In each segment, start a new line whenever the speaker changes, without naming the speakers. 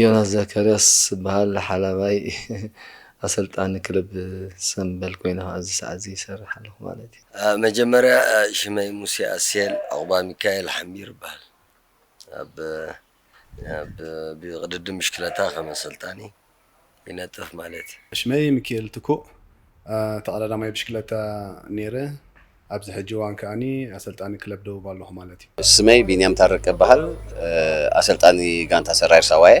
ዮናስ ዘካርያስ እበሃል ሓላባይ ኣሰልጣኒ ክለብ ሰምበል ኮይነ ከኣ ኣብዚ ሰዓት እዚ ይሰርሕ ኣለኹ ማለት እዩ። መጀመርያ
ሽመይ ሙሴ ኣስሄል ዑቕባሚካኤል ሓምቢር እበሃል። ኣብ ብቅድድም ብሽክለታ ከም ኣሰልጣኒ ይነጥፍ ማለት እዩ። ሽመይ ምኪኤል ትኩእ
ተቐዳዳማይ ብሽክለታ ነይረ። ኣብዚ ሕጂ እዋን ከኣ ኣሰልጣኒ ክለብ ደቡብ ኣለኹ ማለት እዩ። ስመይ ቢንያም ታረቀ
እበሃል። ኣሰልጣኒ ጋንታ ሰራየር ሳዋ እየ።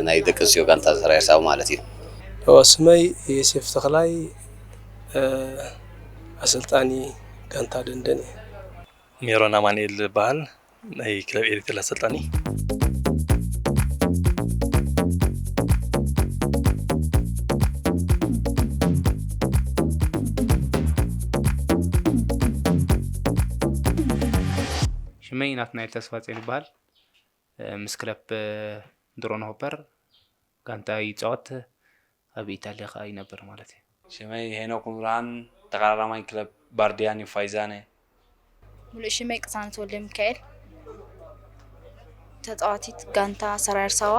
ናይ ደቂ ኣንስትዮ ጋንታ ሰራየር ሳዋ ማለት እዩ። ስመይ
ዮሴፍ ተኽላይ ኣሰልጣኒ ጋንታ ደንደን እየ። ሜሮን
ኣማኑኤል እበሃል። ናይ ክለብ ኤሪትሪል ኣሰልጣኒ
ሽመይ ናትናኤል ተስፋጼን ይበሃል ምስ ክለብ ድሮን ሆፐር ጋንታ ይፃወት ኣብ ኢጣልያ ከኣ ይነብር ማለት እዩ። ሽመይ ሄኖክ
ምብርሃን ተቓራራማይ ክለብ ባርድያን እዩ ፋይዛነ።
ሙሉእ ሽመይ ቅሳነት ወልደሚካኤል ተጻዋቲት ጋንታ ሰራይ ኣርሳዋ።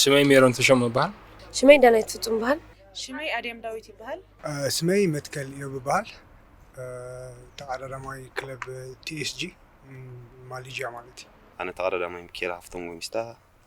ሽመይ
ሜሮን ተሾመ ይበሃል። ሽመይ ዳናይት
ፍጹም ይበሃል። ሽመይ ኣድያም
ዳዊት ይበሃል። ሽመይ መትከል
ኢዮብ ይበሃል ተቓራራማይ ክለብ ቲኤስጂ ማሊዥያ ማለት እዩ። ኣነ ተቓራራማይ ሚኪኤል
ሃፍቶም ጎሚስታ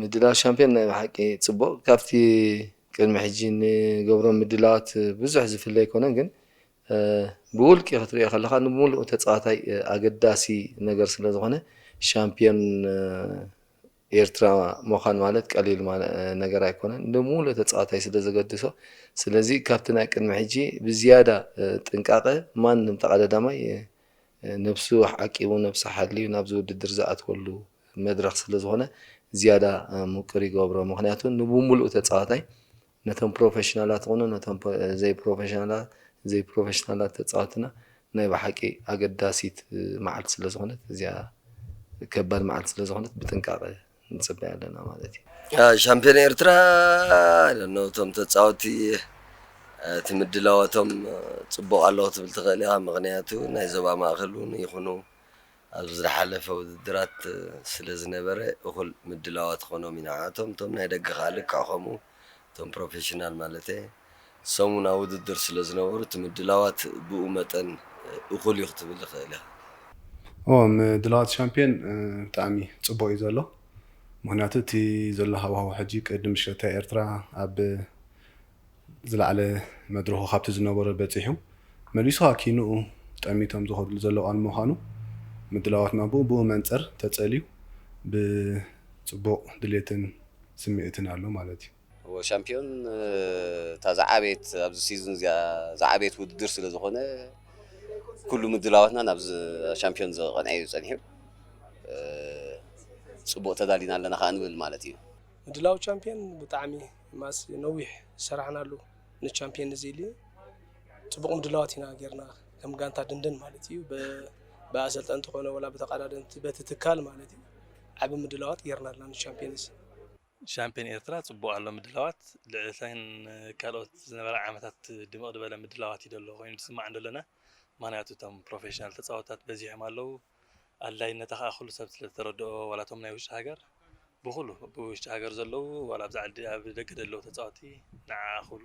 ምድላው ሻምፕዮን ናይ ብሓቂ ጽቡቕ ካብቲ ቅድሚ ሕጂ ንገብሮም ምድላዋት ብዙሕ ዝፍለ ኣይኮነን ግን ብውልቂ ክትሪኦ ከለኻ ንብምሉኡ ተጻዋታይ ኣገዳሲ ነገር ስለ ዝኾነ ሻምፕዮን ኤርትራ ምዃን ማለት ቀሊል ነገር ኣይኮነን ንብምሉኡ ተጻዋታይ ስለ ዘገድሶ ስለዚ ካብቲ ናይ ቅድሚ ሕጂ ብዝያዳ ጥንቃቐ ማንም ተቐዳዳማይ ነብሱ ኣዕቂቡ ነብሱ ሓልዩ ናብዚ ውድድር ዝኣትወሉ መድረኽ ስለዝኾነ ዝያዳ ምቁር ይገብሮ ምኽንያቱ ንብሙሉኡ ተጻዋታይ ነቶም ፕሮፈሽናላት ኹኑ ነቶም ዘይፕሮፈሽናላት ዘይፕሮፈሽናላት ተጻወትና ናይ ብሓቂ ኣገዳሲት መዓልቲ ስለዝኾነት እዚኣ ከባድ መዓልቲ ስለዝኾነት ብጥንቃቐ ንፅበያ ኣለና ማለት እዩ። ሻምፒዮን
ኤርትራ ኖ እቶም ተፃወቲ እቲ ምድላዋቶም ፅቡቕ ኣሎ ክትብል ትኽእል ኢኻ ምኽንያቱ ናይ ዞባ ማእኸል እውን ይኹኑ ኣብ ዝሓለፈ ውድድራት ስለ ዝነበረ እኹል ምድላዋት ክኾኖም እዩ ንዓኣቶም እቶም ናይ ደገ ከዓ ልክዕ ከምኡ እቶም ፕሮፌሽናል ማለት እየ። ሰሙናዊ ውድድር ስለ ዝነበሩ እቲ ምድላዋት ብኡ መጠን እኹል እዩ ክትብል እኽእል እያ። እወ
ምድላዋት ሻምፕዮን ብጣዕሚ ጽቡቕ እዩ ዘሎ። ምኽንያቱ እቲ ዘሎ ሃዋህው ሕጂ ቅድም ሽረታ ኤርትራ ኣብ ዝለዓለ መድረኹ ካብቲ ዝነበሮ በጺሑ መሊሱ ሃኪንኡ ጠሚቶም ዝኸድሉ ዘለዉ እዋን ብምዃኑ ምድላዋትና ብኡ ብኡ መንጽር ተጸልዩ ብጽቡቕ ድሌትን ስምዒትን ኣሎ ማለት እዩ። እወ ሻምፕዮን
እታ ዝዓበየት ኣብዚ ሲዝን እዚኣ ዝዓበየት ውድድር ስለ ዝኾነ ኩሉ ምድላዋትና ናብ ሻምፕዮን ዝቐንዐ እዩ ጸኒሑ ጽቡቕ ተዳሊና ኣለና ከኣ ንብል ማለት እዩ። ምድላው ቻምፕዮን
ብጣዕሚ ማስ ነዊሕ ዝሰራሕናሉ ንቻምፕዮን ንዚሊ ጽቡቕ ምድላዋት ኢና ጌርና ከም ጋንታ ድንድን ማለት እዩ ብኣሰልጠንቲ ኮነ ወላ ብተቐዳደምቲ በቲ ትካል ማለት እዩ ዓቢ ምድላዋት ጌርና ኣለና ንቻምፕዮንስ ሻምፕዮን
ኤርትራ ጽቡቕ ኣሎ ምድላዋት፣ ልዕሊ እተን ካልኦት ዝነበራ ዓመታት ድምቕ ድበለ ምድላዋት እዩ ደሎ ኮይኑ ዝስማዕ ደሎና፣ ምኽንያቱ እቶም ፕሮፌሽናል ተጻወትታት በዚሖም ኣለዉ፣ ኣድላይነታ ከኣ ኩሉ ሰብ ስለ ዝተረድኦ ዋላ እቶም ናይ ውሽጢ ሃገር ብኹሉ፣ ብውሽጢ ሃገር ዘለዉ ዋላ ኣብዚ ዓዲ ኣብ ደገ ደለዉ ተጻወቲ ንዓኣ ኩሉ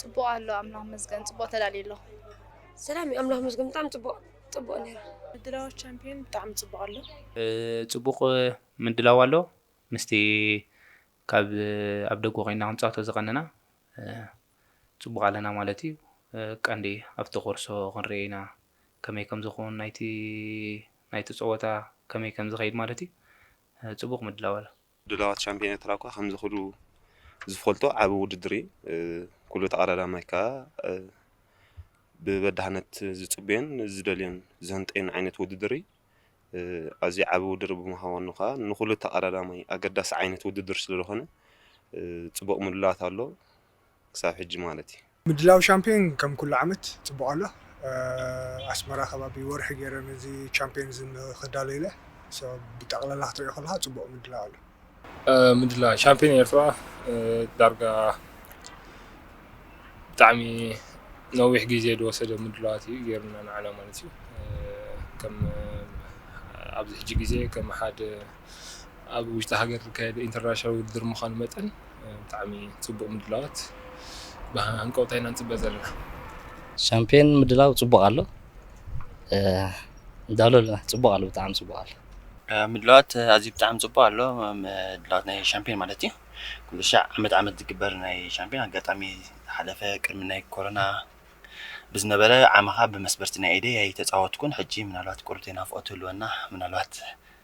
ጽቡቅ ኣሎ ኣምላኽ ይመስገን ጽቡቅ ተዳልዩ ኣሎ። ሰላም ዩ
ኣምላኽ ይመስገን ብጣዕሚ ጽቡቅ ጽቡቅ ነይሩ። ምድላዋት ቻምፕዮን
ብጣዕሚ ጽቡቅ ኣሎ። ጽቡቅ
ምድላው ኣሎ ምስቲ ካብ ኣብ ደገ ኮይንና ክንጻወቶ ዝቀነና ጽቡቅ ኣለና ማለት እዩ ቀንዲ ኣብቲ ኮርሶ ክንሪኦ ኢና ከመይ ከምዝኮን ናይቲ ናይቲ ጸወታ ከመይ ከምዝከይድ ማለት እዩ ጽቡቅ ምድላው ኣሎ። ድላዋት ሻምፕዮን ኤርትራ
እኳ ከምዚ ኩሉ ዝፈልጦ ዓቢ ውድድር እዩ። ኩሉ ተቐዳዳማይ ከኣ ብበዳህነት ዝጽበዮን ዝደልዮን ዝህንጠዮን ዓይነት ውድድር እዩ። ኣዝዩ ዓቢ ውድድር ብምዃኑ ከኣ ንኹሉ ተቐዳዳማይ ኣገዳሲ ዓይነት ውድድር ስለዝኾነ ጽቡቕ ምድላዋት ኣሎ። ክሳብ ሕጂ ማለት እዩ። ምድላው ሻምፕዮን
ከም ኩሉ ዓመት ጽቡቕ ኣሎ። ኣስመራ ከባቢ ወርሒ ጌረ ነዚ ቻምፕዮን እዚ ክዳሎ ኢለ። so ብጠቕላላ ክትሪኦ ከለኻ ጽቡቕ ምድላው ኣሎ። ምድላው
ሻምፕዮን ኤርትራ ዳርጋ ብጣዕሚ ነዊሕ ግዜ ዝወሰደ ምድላዋት እዩ ጌርና ንዓና ማለት እዩ። ከም ኣብዚ ሕጂ ግዜ ከም ሓደ ኣብ ውሽጢ ሃገር ዝካየድ ኢንተርናሽናል ውድድር ምዃኑ መጠን ብጣዕሚ ፅቡቕ ምድላዋት ብሃንቀውታ ኢና ንፅበ ዘለና። ሻምፒዮን
ምድላው ፅቡቕ ኣሎ ንዳሎ ኣለና ፅቡቕ ኣሎ ብጣዕሚ ፅቡቕ ኣሎ። ምድላዋት
ኣዝዩ ብጣዕሚ ፅቡቕ ኣሎ ምድላዋት ናይ ሻምፒዮን ማለት እዩ ኩሉ ሻዕ ዓመት ዓመት ዝግበር ናይ ሻምፒዮን ኣጋጣሚ ዝሓለፈ ቅድሚ ናይ ኮሮና ብዝነበረ ዓመኻ ብመስበርቲ ናይ ኢደይ ኣይተፃወትኩን ሕጂ ምናልባት ቁርብተይ ናፍቖት ትህልወና ምናልባት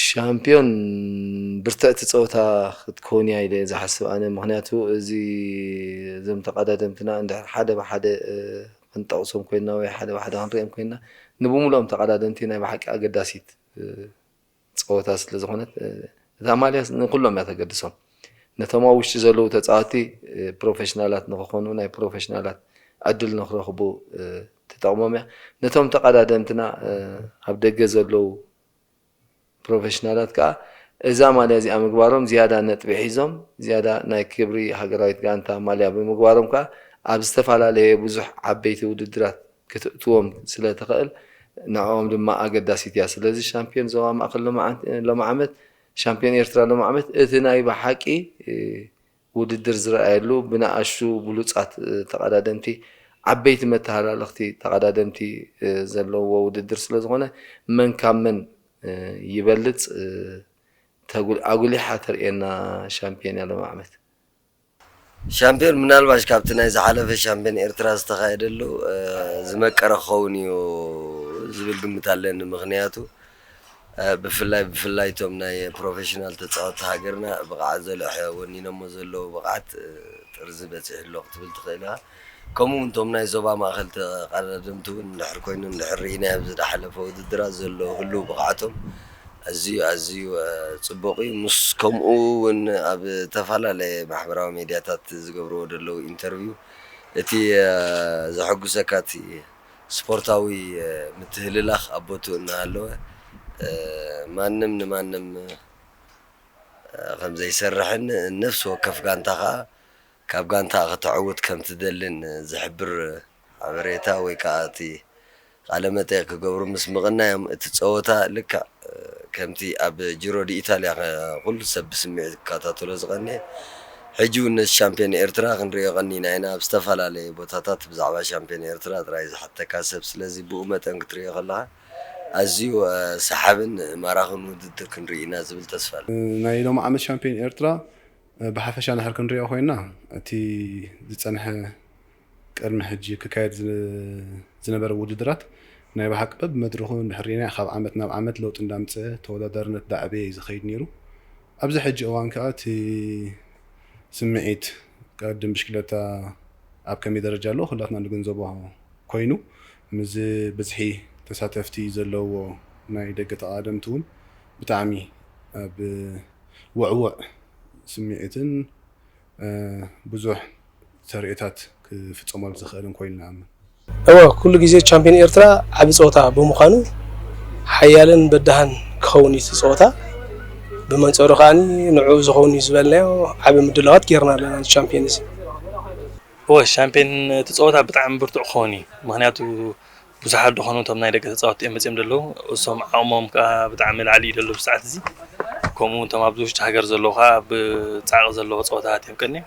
ሻምፕዮን ብርትዕቲ ጸወታ ክትከውን እያ ኢለ ዝሓስብ ኣነ ምክንያቱ እዚ እዞም ተቃዳደምትና እንድሕር ሓደ ብሓደ ክንጠቅሶም ኮይና ወይ ሓደ ብሓደ ክንሪኦም ኮይና ንብሙሉኦም ተቃዳደምቲ ናይ ብሓቂ ኣገዳሲት ጸወታ ስለ ዝኮነት እዛ ማልያ ንኩሎም እያ ተገድሶም ነቶም ኣብ ውሽጢ ዘለዉ ተጻወቲ ፕሮፌሽናላት ንክኮኑ ናይ ፕሮፌሽናላት ዕድል ንክረክቡ ትጠቅሞም እያ ነቶም ተቃዳደምትና ኣብ ደገ ዘለዉ ፕሮፌሽናላት ከኣ እዛ ማልያ እዚኣ ምግባሮም ዝያዳ ነጥቢ ሒዞም ዝያዳ ናይ ክብሪ ሃገራዊት ጋንታ ማልያ ብምግባሮም ከኣ ኣብ ዝተፈላለየ ብዙሕ ዓበይቲ ውድድራት ክትእትዎም ስለትኽእል ንዕኦም ድማ ኣገዳሲት እያ። ስለዚ ሻምፕዮን ዞባ ማእከል ሎሚ ዓመት ሻምፕዮን ኤርትራ ሎሚ ዓመት እቲ ናይ ብሓቂ ውድድር ዝርኣየሉ ብንኣሽቱ ብሉጻት ተቐዳደምቲ፣ ዓበይቲ መተሃላለኽቲ ተቐዳደምቲ ዘለውዎ ውድድር ስለዝኾነ መን ካብ መን ይበልጽ ኣጉሊሓ ተርእየና ሻምፕዮን እያ ሎሚ ዓመት።
ሻምፕዮን ምናልባሽ ካብቲ ናይ ዝሓለፈ ሻምፕዮን ኤርትራ ዝተኻየደሉ ዝመቀረ ክኸውን እዩ ዝብል ግምት ኣለኒ። ምኽንያቱ ብፍላይ ብፍላይ እቶም ናይ ፕሮፌሽናል ተጻወቲ ሃገርና ብቕዓት ዘልዕሐ ወኒኖሞ ዘለዉ ብቕዓት ጥርዚ በጺሑ ኣሎ ክትብል ትኽእል ኢኻ። ከምኡ ውን እቶም ናይ ዞባ ማእከል ተቐዳደምቲ ውን እንድሕር ኮይኑ እንድሕር ርኢናዮ ኣብ ዝደሓለፈ ውድድራት ዘሎ ህሉው ብቕዓቶም ኣዝዩ ኣዝዩ ጽቡቕ እዩ ምስ ከምኡ ውን ኣብ ተፋላለየ ማሕበራዊ ሜድያታት ዝገብርዎ ደለዉ ኢንተርቪው እቲ ዘሐጉሰካ እቲ ስፖርታዊ ምትህልላኽ ኣብ ቦትኡ እናሃለወ ማንም ንማንም ከምዘይሰርሕን ነፍሲ ወከፍ ጋንታ ከኣ ካብ ጋንታኣ ከተዕውት ከምትደልን ዝሕብር ሓበሬታ ወይ ከኣ እቲ ቃለ መጠይቕ ክገብሩ ምስ ምቕናዮም እቲ ጸወታ ልክዕ ከምቲ ኣብ ጂሮ ዲኢታልያ ኩሉ ሰብ ብስምዒት ክከታተሎ ዝቀነየ ሕጂ ውን ነቲ ሻምፕዮን ኤርትራ ክንርእዮ ቀኒና ኢና። ኣብ ዝተፈላለየ ቦታታት ብዛዕባ ሻምፕዮን ኤርትራ ጥራይ ዝሓተካ ሰብ ስለዚ ብኡ መጠን ክትርእዮ ከለካ ኣዝዩ ሰሓብን ማራኽን ውድድር ክንርኢ ኢና ዝብል ተስፋ ኣለኒ። ናይ ሎሚ ዓመት ሻምፕዮን
ኤርትራ ብሓፈሻ እንድሕር ክንርእዮ ኮይና እቲ ዝጸንሐ፣ ቅድሚ ሕጂ ክካየድ ዝነበረ ውድድራት ናይ ብሓቂ በብመድረኹ እንድሕር ሪኢናዮ ካብ ዓመት ናብ ዓመት ለውጢ እንዳምጸ ተወዳዳርነት ዳዕበየ እዩ ዝኸይድ ኔሩ ኣብዚ ሕጂ እዋን ከኣ እቲ ስምዒት ቅድድም ብሽክለታ ኣብ ከመይ ደረጃ ኣሎ ኩላትና ንግንዘቦ ኮይኑ ምስዚ ብዝሒ ተሳተፍቲ ዘለዎ ናይ ደገ ተቓዳደምቲ ውን ብጣዕሚ ኣብ ውዕዉዕ ስምዒትን ብዙሕ ተርእዮታት ክፍፀመሉ ዝኽእልን ኮይኑ ንኣምን። እወ፣ ኩሉ ግዜ
ቻምፕዮን ኤርትራ ዓቢ ጸወታ ብምዃኑ ሓያልን በዳህን ክኸውን እዩ እቲ ጸወታ። ብመንጸሩ ከኣ ንዕኡ ዝኸውን እዩ ዝበልናዮ ዓቢ ምድላዋት ጌርና ኣለና ንቻምፕዮን'ዚ። እወ፣
ቻምፕዮን እቲ ጸወታ ብጣዕሚ ብርቱዕ ክኸውን እዩ። ምኽንያቱ ብዙሓት ደኾኑ እቶም ናይ ደገ ተጻወትቲ እዮም መጺኦም ዘለዉ። እሶም ዓቕሞም ከኣ ብጣዕሚ ላዕሊ እዩ ዘሎ ኣብዚ ሰዓት'ዚ። ከምኡ'ውን እቶም ኣብዚ ውሽጢ ሃገር ዘለዉ ከኣ ብጻዕቒ ዘለዎ ጸወታታት እዮም ቀንዮም።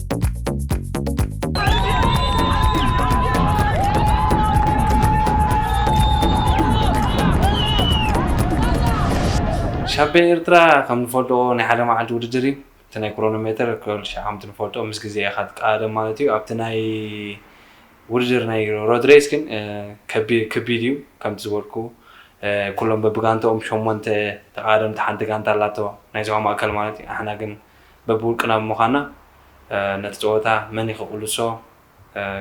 ሻምፒዮን ኤርትራ ከም ንፈልጦ ናይ ሓደ መዓልቲ ውድድር እዩ እቲ ናይ ክሮኖ ሜተር ከምቲ ንፈልጦ ምስ ግዜ ኢኻ ትቃደም ማለት እዩ ኣብቲ ናይ ውድድር ናይ ሮድ ሬስ ግን ከቢድ እዩ ከምቲ ዝበልኩ ኩሎም በብጋንታኦም ሸሞንተ ተቃደምቲ ሓንቲ ጋንታ ኣላቶ ናይ ዞባ ማእከል ማለት እዩ ኣሕና ግን በብውልቅና ብምዃንና ነቲ ጸወታ መን እዩ ክቕልሶ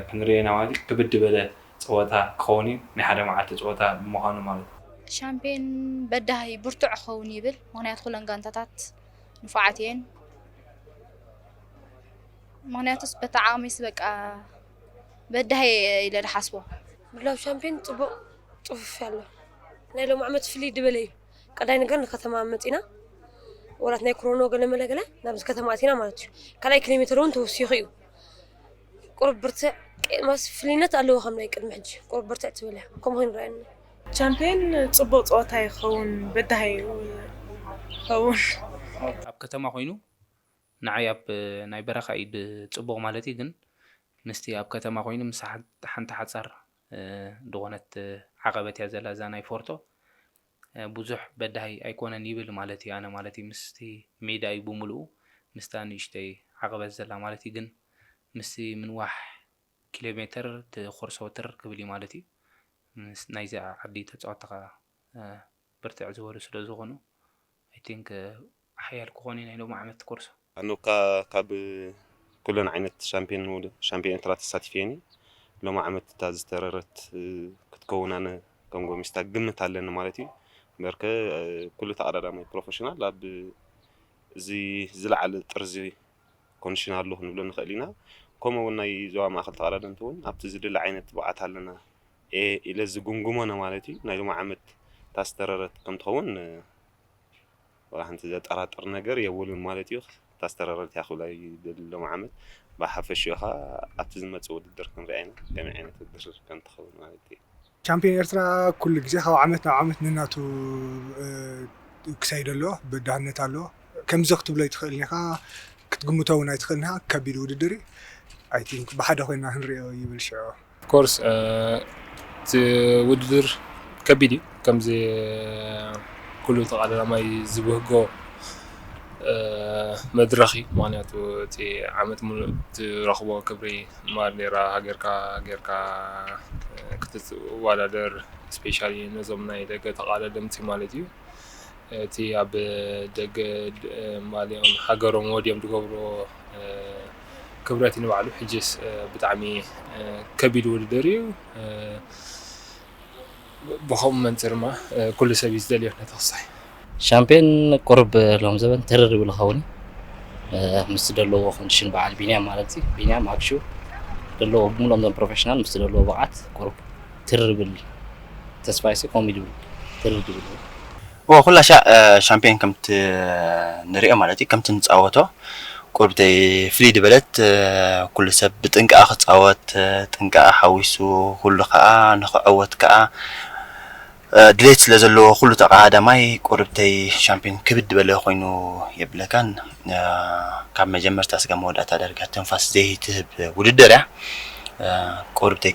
ክንርኢ ኢና ማለት እዩ። ክብድ ዝበለ ጸወታ ክኸውን እዩ፣ ናይ ሓደ መዓልቲ ጸወታ ብምዃኑ ማለት እዩ። ሻምፕዮን
በዳሂ ብርቱዕ ክኸውን ይብል፣ ምኽንያቱ ኩለን ጋንታታት ንፉዓት እየን። ምኽንያቱስ በታ ዓቕመይስ በቃ በዳሂ እየ ኢለ ዝሓስቦ። ምድላው ሻምፕዮን
ጽቡቕ ጽፉፍ ኣሎ፣ ናይ ሎሚ ዓመት ፍልይ ዝበለ እዩ። ቀዳይ ነገር ንከተማ መፂና ወላት ናይ ክሮኖ ገለ መለ ገለ ናብዚ ከተማ ኣቲና ማለት እዩ ካልኣይ ኪሎ ሜትር እውን ተወሲኹ እዩ ቁርብ ብርትዕ ማስ ፍልይነት ኣለዎ ከም ናይ ቅድሚ ሕጂ ቁርብ ብርትዕ ትብል እያ ከምኡ ኮይኑ ረኣየኒ ቻምፒየን
ፅቡቅ ፀወታ ይኸውን በዳሂ ይኸውን
ኣብ ከተማ ኮይኑ ንዓይ ኣብ ናይ በረኻ እዩ ፅቡቅ ማለት እዩ ግን ምስቲ ኣብ ከተማ ኮይኑ ምስ ሓንቲ ሓፃር ድኾነት ዓቐበት እያ ዘላ እዛ ናይ ፎርቶ ብዙሕ በዳሂ ኣይኮነን ይብል ማለት እዩ ኣነ ማለት እዩ ምስቲ ሜዳ እዩ ብምልኡ ምስታ ንእሽተይ ዓቐበት ዘላ ማለት እዩ ግን ምስቲ ምንዋሕ ኪሎ ሜትር እቲ ኾርሶ ትር ክብል እዩ ማለት እዩ ናይዚ ዓዲ ተጻወትቲ ከኣ ብርትዕ ዝበሉ ስለ ዝኾኑ I think ሓያል ክኾኑ እዩ ናይ ሎሚ ዓመት ኮርሶ። ኣነ እካ
ካብ ኩለን ዓይነት ሻምፕዮን ሻምፕዮን ኤርትራ ተሳቲፈየን እየ ሎሚ ዓመት እታ ዝተረረት ክትከውን ኣነ ከም ጎሚስታ ግምት ኣለኒ ማለት እዩ እምበር ከ ኩሉ ተቀዳዳማይ ፕሮፈሽናል ኣብ እዚ ዝለዓለ ጥርዚ ኮንዲሽናሉ ክንብሎ ንኽእል ኢና። ከምኡ እውን ናይ ዞባ ማእኸል ተቐዳደምቲ እውን ኣብቲ ዝድለ ዓይነት ትብዓት ኣለና ኢለ ዝግምግሞ ንማለት እዩ። ናይ ሎሚ ዓመት እታ ዝተረረት ከምትኸውን ዋላ ሓንቲ ዘጠራጥር ነገር የብሉን ማለት እዩ። እታ ዝተረረት እያ ክብላ ይደሊ ሎሚ ዓመት ብሓፈሽኡ ኸኣ ኣብቲ ዝመጽእ ውድድር ክንሪኣ ኢና ከመይ ዓይነት ውድድር ከምትኸውን ማለት እዩ። ቻምፕዮን ኤርትራ
ኩሉ ግዜ ካብ ዓመት ናብ ዓመት ነናቱ ክሰይድ ኣለዎ በዳህነት ኣለዎ ከምዚ ክትብሎ ኣይትክእልን ኢካ ክትግምቶ ውን ኣይትክእልን ኢካ ከቢድ ውድድር እዩ ኣይ ቲንክ ብሓደ ኮይና ክንሪኦ ይብል ሽዑ። ኦፍ ኮርስ
እቲ ውድድር ከቢድ እዩ ከምዚ ኩሉ ተቃላማይ ዝብህጎ መድረክ እዩ ምክንያቱ እቲ ዓመት ሙሉእ ትረክቦ ክብሪ ማርኔራ ሃገርካ ጌርካ ክትዋዳደር ስፔሻሊ ነዞም ናይ ደገ ተቓለደምቲ ማለት እዩ እቲ ኣብ ደገ ማልኦም ሃገሮም ወድዮም ዝገብሮ ክብረት ንባዕሉ ሕጅስ ብጣዕሚ ከቢድ ውድድር እዩ። ብኸምኡ መንጽር ድማ ኩሉ ሰብ እዩ ዝደልዮ ነቲ ክሳሕ። ሻምፕዮን
ቁሩብ ሎም ዘበን ተረር ይብሉ ኸውን እዩ ምስ ዘለዎ ኮንዲሽን በዓል ቢንያም ማለት እዩ ቢንያም ኣብሹ ዘለዎ ብምሎም ዘም ፕሮፌሽናል ምስ ዘለዎ ብቕዓት ቁሩብ ትርር ይብል ተስፋይሲ ከምኡ ይብል ትርር ይብል እወ
ኩላ ሻዕ ሻምፕዮን ከምቲ ንሪኦ ማለት እዩ ከምቲ ንጻወቶ ቁርብተይ ፍልይ ድበለት ኩሉ ሰብ ብጥንቃቀ ክጻወት ጥንቃቀ ሓዊሱ ኩሉ ከኣ ንክዕወት ከኣ ድሌት ስለ ዘለዎ ኩሉ ተቀዳዳማይ ቁርብተይ ሻምፕዮን ክብድ ድበለ ኮይኑ የብለካን ካብ መጀመርታ ስጋብ መወዳእታ ዳርጋ ትንፋስ ዘይትህብ ውድድር እያ ቁርብተይ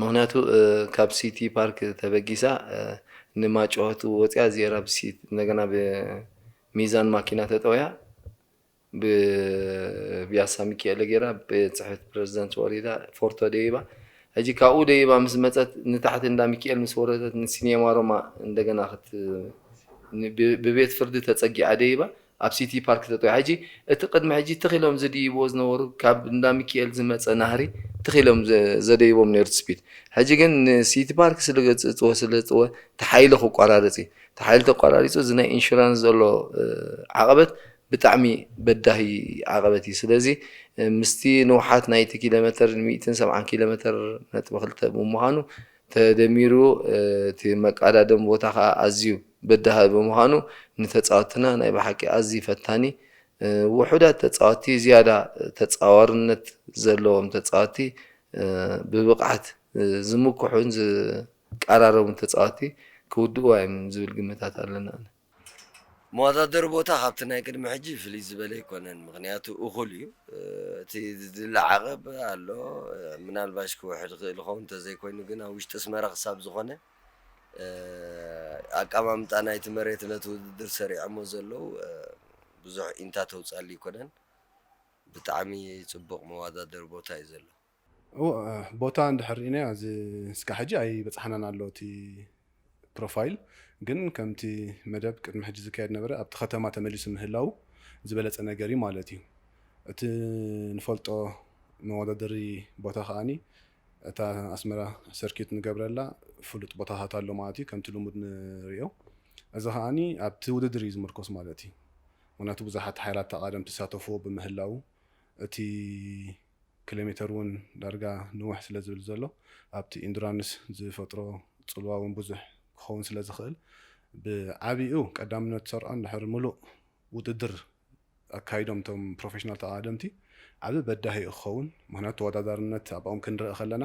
ምኽንያቱ ካብ ሲቲ ፓርክ ተበጊሳ ንማጭሆት ወፂኣ እዚኤራ እንደገና ብሚዛን ማኪና ተጠውያ ብብያሳ ሚኪኤለ ገይራ ቤትፅሕፍት ፕረዚዳንት ወሪዳ ፎርቶ ደይባ ሕጂ ካብኡ ደይባ ምስ መፀት ንታሕቲ እንዳ ሚኪኤል ምስ ወረደት ንሲኔማ ሮማ እንደገና ብቤት ፍርዲ ተፀጊዓ ደይባ ኣብ ሲቲ ፓርክ ተጠዊዖ ሕጂ እቲ ቅድሚ ሕጂ ትኽ ኢሎም ዝድይብዎ ዝነበሩ ካብ እንዳ ሚኪኤል ዝመጸ ናህሪ ትኽ ኢሎም ዘደይቦም ኔሩ ትጽቢት ሕጂ ግን ንሲቲ ፓርክ ስለገጽጽዎ ስለዝጥወ እቲ ሓይሊ ክቋራርጽ እዩ እቲ ሓይሊ ተቋራሪጹ እዚ ናይ ኢንሹራንስ ዘሎ ዓቐበት ብጣዕሚ በዳሂ ዓቐበት እዩ ስለዚ ምስቲ ንውሓት ናይቲ ኪሎመተር ሚእትን ሰብዓን ኪሎመተር ነጥቢ ክልተ ብምዃኑ ተደሚሩ እቲ መቃዳደም ቦታ ከኣ ኣዝዩ በዳሂ ብምዃኑ ንተጻወትና ናይ ብሓቂ ኣዝዪ ፈታኒ ውሑዳት ተጻወቲ ዝያዳ ተጻዋርነት ዘለዎም ተጻወቲ ብብቕዓት ዝምኩሑን ዝቃራረቡን ተጻወቲ ክውድእዋ እዮም ዝብል ግምታት ኣለኒ ኣነ።
መወዳደሪ ቦታ ካብቲ ናይ ቅድሚ ሕጂ ፍልይ ዝበለ ኣይኮነን ምኽንያቱ እኹል እዩ እቲ ዝድለ ዓቐብ ኣሎ ምናልባሽ ክውሕድ ይኽእል ይኸውን እንተዘይኮይኑ ግን ኣብ ውሽጢ ኣስመራ ክሳብ ዝኾነ ኣቀማምጣ ናይቲ መሬት ነቲ ውድድር ሰሪዖሞ ዘለዉ ብዙሕ ኢንታ ተውጻሊ ኣይኮነን ብጣዕሚ ጽቡቕ መወዳደሪ ቦታ እዩ ዘሎ።
ቦታ እንድሕር ሪኢናዮ እዚ እስካዕ ሕጂ ኣይበጽሓናን ኣሎ እቲ ፕሮፋይል ግን ከምቲ መደብ ቅድሚ ሕጂ ዝካየድ ዝነበረ ኣብቲ ከተማ ተመሊሱ ምህላዉ ዝበለጸ ነገር እዩ ማለት እዩ እቲ ንፈልጦ መወዳደሪ ቦታ ከኣ እታ ኣስመራ ሰርኪዩት ንገብረላ ፍሉጥ ቦታታት ኣሎ ማለት እዩ ከምቲ ልሙድ ንሪኦ እዚ ከኣ ኣብቲ ውድድር እዩ ዝምርኮስ ማለት እዩ ምክንያቱ ብዙሓት ሓይላት ተቃደምቲ ዝሳተፍዎ ብምህላዉ እቲ ክሌሜተር ውን ዳርጋ ንውሕ ስለ ዝብል ዘሎ ኣብቲ ኢንዱራንስ ዝፈጥሮ ጽልዋ ውን ብዙሕ ክኸውን ስለ ዝኽእል ብዓቢኡ ቀዳምነት ዝሰርዖ እንድሕር ምሉእ ውድድር ኣካይዶም እቶም ፕሮፌሽናል ተቐዳደምቲ ዓቢ በዳሂ ዩ ክኸውን ምኽንያቱ ተወዳዳርነት ኣብኦም ክንርኢ ከለና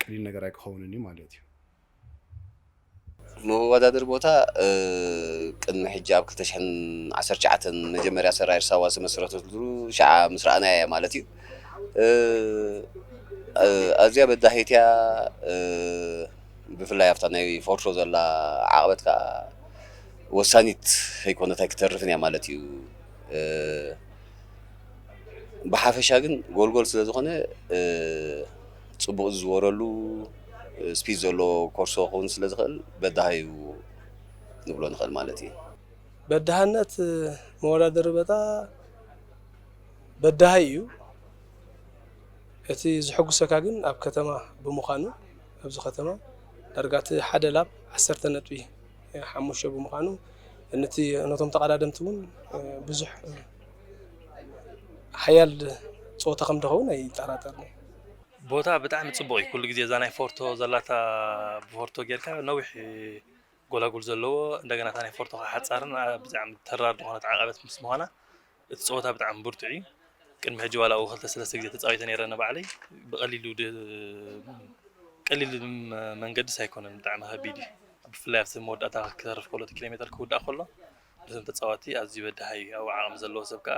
ቀሊል ነገር ኣይክኸውንን ዩ ማለት ዩ።
መወዳድሪ ቦታ ቅድሚ ሕጂ ኣብ ክልተ ሽሕን ዓሰርተ ትሽዓተን መጀመርያ ሰራየር ሳዋ ዝተመስረተትሉ ሽዓ ምስ ረኣናያ እያ ማለት እዩ። ኣዝያ በዳሂት እያ ብፍላይ ኣብታ ናይ ፎርሾ ዘላ ዓቕበት ከዓ ወሳኒት ከይኮነት ኣይክተርፍን እያ ማለት እዩ። ብሓፈሻ ግን ጎልጎል ስለዝኾነ ፅቡቕ ዝዝወረሉ ስፒድ ዘለዎ ኮርሶ ክኸውን ስለ ዝኽእል በዳሂ'ዩ ንብሎ ንኽእል ማለት እዩ። በዳህነት
መወዳደሪ በጣ በዳሂ እዩ። እቲ ዝሕጉሰካ ግን ኣብ ከተማ ብምዃኑ ኣብዚ ከተማ ዳርጋ እቲ ሓደ ላፕ ዓሰርተ ነጥቢ ሓሙሽተ ብምዃኑ ንቲ ነቶም ተቐዳደምቲ እውን ብዙሕ ሓያል ፀወታ ከም ድኸውን ኣይጠራጠርን እየ። ቦታ
ብጣዕሚ ጽቡቕ እዩ ኩሉ ግዜ እዛ ናይ ፎርቶ ዘላታ ብፎርቶ ጌርካ ነዊሕ ጎላጉል ዘለዎ እንደገና እታ ናይ ፎርቶ ከዓ ሓጻርን ኣ- ብጣዕሚ ተራር ዝኾነት ዓቐበት ምስ ምዃና እቲ ጸወታ ብጣዕሚ ብርቱዕ እዩ ቅድሚ ሕጂ ዋላ ኣብኡ ክልተ ሰለስተ ግዜ ተጻዊተ ነይረ ኣነ ባዕለይ ብቐሊሉ ድ- ቀሊል ም- መንገድስ ኣይኮነን ብጣዕሚ ከቢድ እዩ ብፍላይ ኣብቲ መወዳእታ ክተርፍ ከሎ እቲ ኪሎ ሜተር ክውዳእ ከሎ ነቶም ተጻወትቲ ኣዝዩ በዳሂ እዩ ኣብኡ ዓቕሚ ዘለዎ ሰብ ከዓ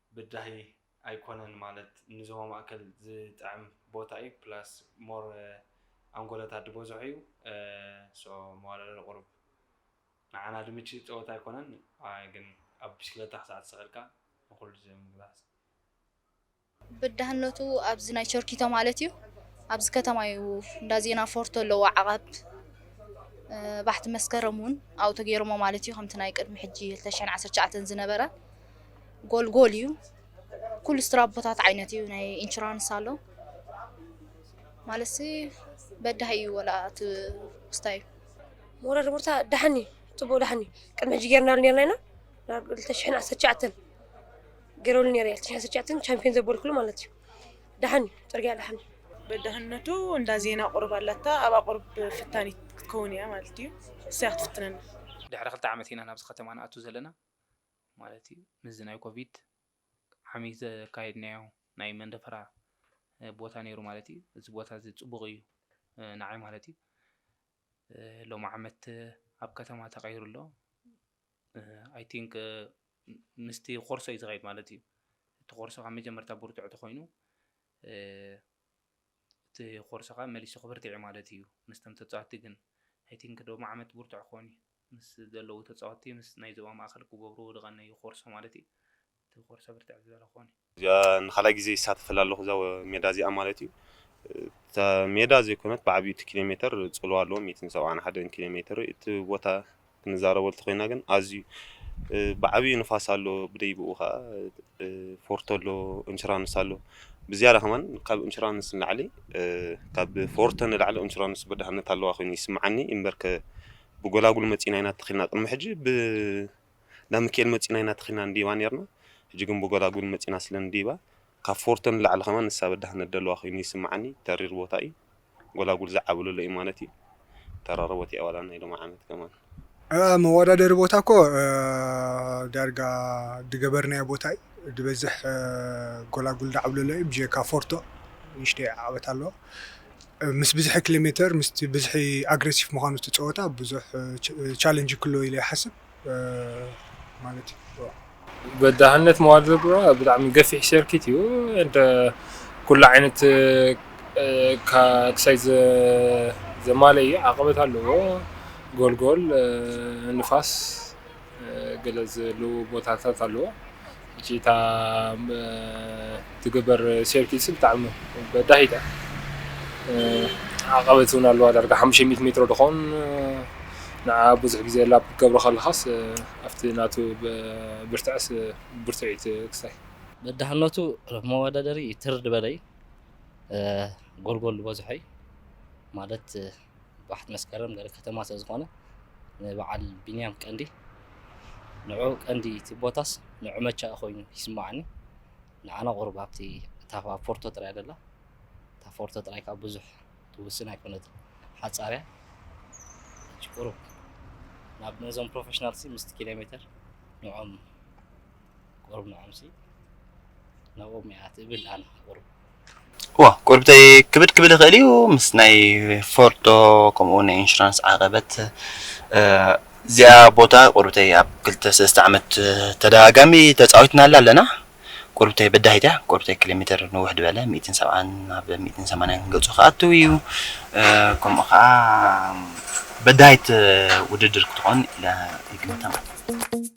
ብዳሂ ኣይኮነን ማለት ንዞባ ማእከል ዝጥዕም ቦታ እዩ ፕላስ more ኣንጎሎታት ድበዝሖ እዩ so መዋዳድሪ ቁሩብ ንዓና ድምቺ ጸወታ ኣይኮነን ግን ኣብ ብሽክለታ ክሳዕ ተሰቂልካ ንኩሉ ዝምግላጽ
ብዳህነቱ ኣብዚ ናይ ቸርኪቶ ማለት እዩ ኣብዚ ከተማ እዩ እንዳ ዜና ፎርቶ ኣለዎ ዓቓብ ባሕቲ መስከረም ውን ኣብኡ ተገይሮሞ ማለት እዩ ከምቲ ናይ ቅድሚ ሕጂ ክልተ ሽሕን ዓሰርተ ትሽዓተን ዝነበረ። ጎልጎል እዩ ኩሉ ስትራቦታት ዓይነት እዩ ናይ ኢንሹራንስ ኣሎ ማለትሲ በዳሂ እዩ ወላ እቲ ስታይ ሞራል
ቦርታ ደሓን እዩ ፅቡቅ ደሓን እዩ ቅድሚ ሕጂ ጌርናሉ ኔርና ኢና ናብ ክልተ ሽሕን ዓሰርተ ትሽዓተን ገይረሉ ነይረ ክልተ ሽሕን ዓሰርተ ትሽዓተን ቻምፒዮን ዘበልኩሉ ማለት እዩ ደሓን እዩ ፅርግያ ደሓን እዩ
በዳህነቱ እንዳ ዜና ቁርብ ኣላታ ኣብኣ ቁርብ ፍታኒት ክትከውን እያ ማለት እዩ እሰያ ክትፍትነና ድሕሪ ክልተ ዓመት
ኢና ናብዚ ከተማ ንኣቱ ዘለና ማለት እዩ ምስዚ ናይ ኮቪድ ዓሚ ዘካየድናዮ ናይ መንደፈራ ቦታ ነይሩ ማለት እዩ እዚ ቦታ እዚ ፅቡቕ እዩ ንዓይ ማለት እዩ ሎሚ ዓመት ኣብ ከተማ ተቐይሩ ኣሎ ኣይ ቲንክ ምስቲ ኮርሶ እዩ ዝኸይድ ማለት እዩ እቲ ኮርሶ ካብ መጀመርታ ብርትዕ ተኮይኑ እቲ ኮርሶ ከዓ መሊሱ ክብርትዕ ማለት እዩ ምስተም ተፃወቲ ግን ኣይ ቲንክ ሎሚ ዓመት ብርትዕ ክኾን እዩ ምስ ዘለዉ ተጻወትቲ ምስ ናይ ዞባ ማእከል ክገብሩ ዝቐነዩ ኮርሶ ማለት እዩ። እቲ ኮርሶ ብርትዕ ዝበለ ክኾን እዩ። እዚኣ ንካልኣይ ግዜ
ይሳተፈላ ኣለኹ እዛ ሜዳ እዚኣ ማለት እዩ። እታ ሜዳ ዘይኮነት ብዓቢኡ እቲ ኪሎ ሜተር ጽልዋ ኣለዎ ሚእትን ሰብዓን ሓደን ኪሎ ሜተር እቲ ቦታ ክንዛረበሉ ተኾይና ግን ኣዝዩ ብዓቢኡ ንፋስ ኣሎ ብደይብኡ ከኣ ፎርቶ ኣሎ እንሹራንስ ኣሎ ብዝያዳ ከማን ካብ እንሹራንስ ንላዕሊ ካብ ፎርቶ ንላዕሊ እንሹራንስ በዳህነት ኣለዋ ኮይኑ ይስምዓኒ እምበርከ ብጎላጉል መጺና ኢና ተኺልና ቅድሚ ሕጂ ብ እንዳ ሚካኤል መጺና ኢና ተኺልና ንዲባ ነርና ሕጂ ግን ብጎላጉል መጺና ስለ ንዲባ ካብ ፎርቶ ንላዕሊ ከማን ንሳ በዳህነት ደለዋ ኮይኑ ይስምዓኒ ተሪር ቦታ እዩ ጎላጉል ዝዓብሉ ኣሎ ኢዩ ማለት ኢዩ ተራረቦት ኢያ ዋላ ናይ ሎሚ ዓመት ከማን። እኣ መዋዳደሪ
ቦታ እኮ ዳርጋ ድገበርናዮ ቦታ እዩ ድበዝሕ ጎላጉል ዳዓብሉ ኣሎ እዩ ብጀካ ፎርቶ ንእሽተይ ዓቀበት ኣለዎ ምስ ብዝሒ ክሌሜተር ምስቲ ብዝሒ ኣግረሲፍ ምኳኑ እቲ ጸወታ ብዙሕ ቻለንጂ ክህልዎ ኢለ ይሓስብ። ማለት ይግበኦ። በዳህነት
መዋል ዘግብራ ብጣዕሚ ገፊሕ ሰርኪት እዩ እንተ ኩሉ ዓይነት ክሳይ ዘማለ እዩ ዓቐበት ኣለዎ ጎልጎል ንፋስ ገለ ዘሉ ቦታታት ኣለዎ። ሕጂ እታ ትግበር ሴርኪትሲ ብጣዕሚ በዳሂት እያ ዓቐበት እውን ኣለዋ ዳርጋ ሓሙሽተ ሚእቲ ሜትሮ ድኾን ንዓ ብዙሕ ግዜ ላፕ ክትገብሮ ከለኻስ ኣብቲ ናቱ ብርትዐስ ብርቱዒት ክሳይ በዳህነቱ
ኣብ መወዳደሪ ትር ድበለይ ጎልጎል ድበዝሖ እዩ ማለት ባሕቲ መስከረም ገለ ከተማ ስለ ዝኾነ ንበዓል ቢንያም ቀንዲ ንዑ ቀንዲ እቲ ቦታስ ንዑ መቻ ኮይኑ ይስማዓኒ ንዓና ቁሩብ ኣብቲ እታ ፎርቶ ጥራይ ደላ እታ ፎርቶ ጥራይ ካብ ብዙሕ ትውስን ኣይኮነት ሓጻርያ ቁሩብ ናብ ነዞም ፕሮፌሽናልሲ ምስቲ ኪሎ ሜተር ንዖም ቁሩብ ንዖምሲ ናብኦም እያ ትብል ኣነ ቁሩብ ዋ
ቁርብተይ ክብድ ክብል ይኽእል እዩ ምስ ናይ ፎርዶ ከምኡ እውን ናይ ኢንሹራንስ ዓቐበት እዚኣ ቦታ ቁርብተይ ኣብ ክልተ ሰለስተ ዓመት ተደጋጋሚ ተፃዊትናላ ኣለና ቁርብተይ በዳሂት እያ ቁርብተይ ኪሎ ሜትር ንውሕ ድበለ ሚእትን ሰብዓን ናብ ሚእትን ሰማንያን ገፁ ክኣትው እዩ ከምኡ ከዓ በዳሂት ውድድር ክትኾን ኢለ ይግምታ ማለት እዩ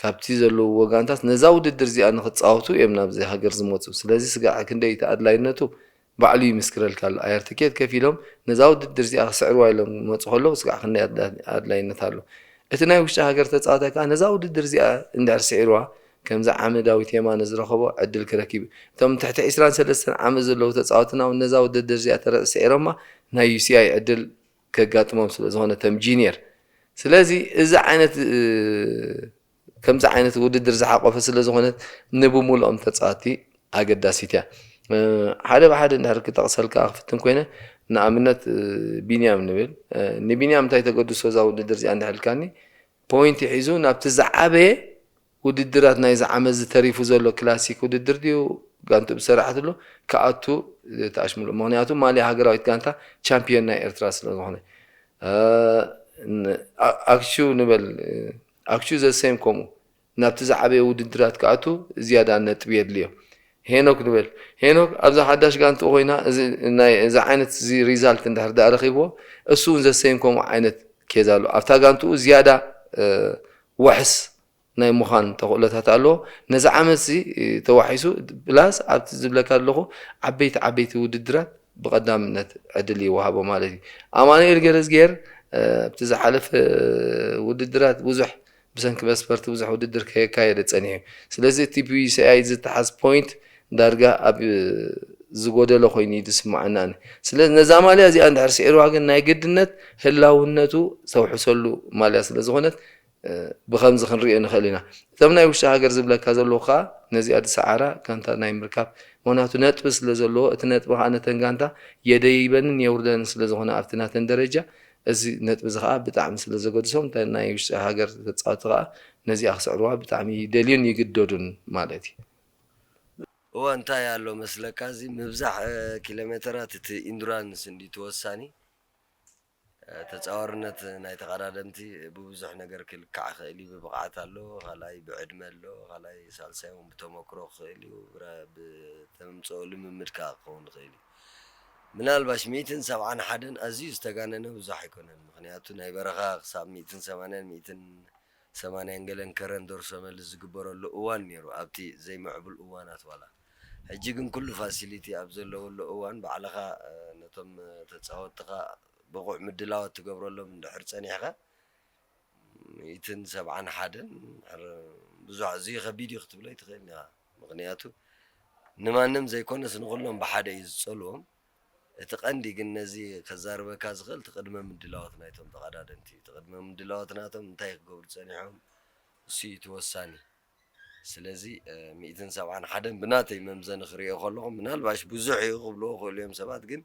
ካብቲ ዘለውዎ ጋንታት ነዛ ውድድር እዚኣ ንኽጻወቱ እዮም ናብዚ ሃገር ዝመጹ። ስለዚ ስጋዕ ክንደይ እቲ ኣድላይነቱ ባዕሉ ይምስክረልካ ኣሎ። ኣየር ትኬት ከፊሎም ነዛ ውድድር እዚኣ ክስዕርዋ ኢሎም ክመጹ ከለዉ ስጋዕ ክንደይ ኣድላይነት ኣሎ። እቲ ናይ ውሽጢ ሃገር ተጻዋታይ ከኣ ነዛ ውድድር እዚኣ እንድሕር ስዒርዋ ከምዚ ዓሚ ዳዊት የማነ ዝረኸቦ ዕድል ክረክብ እዩ። እቶም ትሕቲ ዕስራን ሰለስተን ዓመት ዘለዉ ተጻወትና'ውን ነዛ ውድድር እዚኣ ተረጽ ስዒሮማ ናይ ዩሲኣይ ዕድል ከጋጥሞም ስለ ዝኾነ ከም ጂንየር ስለዚ እዚ ዓይነት ከምዚ ዓይነት ውድድር ዝሓቆፈ ስለ ዝኾነት ንብሙሉኦም ተጻወቲ ኣገዳሲት እያ ሓደ ብሓደ እንድሕር ክጠቕሰልካ ክፍትን ኮይነ ንኣብነት ቢንያም ንብል ንቢንያም እንታይ ተገድሶ እዛ ውድድር እዚኣ እንድሕር ኢልካኒ ፖይንቲ ሒዙ ናብቲ ዝዓበየ ውድድራት ናይዚ ዓመትዚ ተሪፉ ዘሎ ክላሲክ ውድድር ድዩ ጋንትኡ ዝሰራሓትሉ ክኣቱ ተኣሽሙሉ ምኽንያቱ ማልያ ሃገራዊት ጋንታ ቻምፕዮን ናይ ኤርትራ ስለዝኾነ ኣክሹ ንበል ኣክሹ ዘሰም ከምኡ ናብቲ ዝዓበየ ውድድራት ክኣቱ ዝያዳ ነጥቢ የድልዮ ሄኖክ ንበል ሄኖክ ኣብዛ ሓዳሽ ጋንትኡ ኮይና እዚ ናይ እዚ ዓይነት እዚ ሪዛልት እንድሕር ድኣ ረኺብዎ እሱ እውን ዘሰም ከምኡ ዓይነት ኬዝ ኣሎ ኣብታ ጋንትኡ ዝያዳ ዋሕስ ናይ ምዃን ተኽእሎታት ኣለዎ። ነዚ ዓመትዚ ተዋሒሱ ፕላስ ኣብቲ ዝብለካ ዘለኹ ዓበይቲ ዓበይቲ ውድድራት ብቐዳምነት ዕድል ይወሃቦ ማለት እዩ። ኣማኑኤል ገረዝጊሄር ኣብቲ ዝሓለፈ ውድድራት ብዙሕ ብሰንኪ መስፈርቲ ብዙሕ ውድድር ከየካየደ ጸኒሑ። ስለዚ እቲ ብዩሲኣይ ዝተሓዝ ፖይንት ዳርጋ ኣብ ዝጎደሎ ኮይኑ እዩ ዝስመዓኒ ኣነ። ስለዚ ነዛ ማልያ እዚኣ እንድሕር ስዒርዋ ግን ናይ ግድነት ህላውነቱ ዝተውሕሰሉ ማልያ ስለ ዝኾነት ብኸምዚ ክንርእዮ ንኽእል ኢና። እቶም ናይ ውሽጢ ሃገር ዝብለካ ዘለኹ ከኣ ነዚኣ ዝሰዓራ ጋንታ ናይ ምርካብ ምኽንያቱ ነጥቢ ስለ ዘለዎ እቲ ነጥቢ ከኣ ነተን ጋንታ የደይበንን የውርደንን ስለ ዝኾነ ኣብቲ ናተን ደረጃ እዚ ነጥቢ እዚ ከኣ ብጣዕሚ ስለ ዘገድሶም እተን ናይ ውሽጢ ሃገር ተጻወቲ ከኣ ነዚኣ ክስዕርዋ ብጣዕሚ ይደልዩን ይግደዱን ማለት እዩ።
እወ እንታይ ኣሎ መስለካ እዚ ምብዛሕ ኪሎሜተራት እቲ ኢንዱራንስ እንድዩ እቲ ወሳኒ ተጻዋርነት ናይ ተቐዳደምቲ ብብዙሕ ነገር ክልካዕ ይኽእል እዩ ብብቕዓት ኣሎ ካልኣይ ብዕድመ ኣሎ ካልኣይ ሳልሳይ ውን ብተመክሮ ክኽእል እዩ ብተምጽኦ ልምምድ ከኣ ክኸውን ይኽእል እዩ ምናልባሽ ሚእትን ሰብዓን ሓደን ኣዝዩ ዝተጋነነ ብዙሕ ኣይኮነን ምኽንያቱ ናይ በረኻ ክሳብ ሚእትን ሰማንያን ሚእትን ሰማንያን ገለን ከረን ደርሶ መልስ ዝግበረሉ እዋን ኔሩ ኣብቲ ዘይምዕቡል እዋናት ዋላ ሕጂ ግን ኩሉ ፋሲሊቲ ኣብ ዘለወሉ እዋን ባዕልኻ ነቶም ተጻወትትኻ ብቑዕ ምድላዋት ትገብረሎም እንድሕር ጸኒሕካ ሚእትን ሰብዓን ሓደን እንድሕር ብዙሕ ኣዝዩ ከቢድ እዩ ክትብሎ ኣይትኽእልን ኢኻ ምኽንያቱ ንማንም ዘይኮነስ ንኹሎም ብሓደ እዩ ዝጸልዎም እቲ ቀንዲ ግን ነዚ ከዛርበካ ዝኽእል እቲ ቅድመ ምድላዎት ናይቶም ተቐዳደምቲ እዩ። እቲ ቅድመ ምድላዎት ናቶም እንታይ ክገብሩ ጸኒሖም እሱ እዩ እቲ ወሳኒ። ስለዚ ሚእትን ሰብዓን ሓደን ብናተይ መምዘኒ ክርእዮ ከለኹ ምናልባሽ ብዙሕ እዩ ክብልዎ ይኽእሉ እዮም ሰባት ግን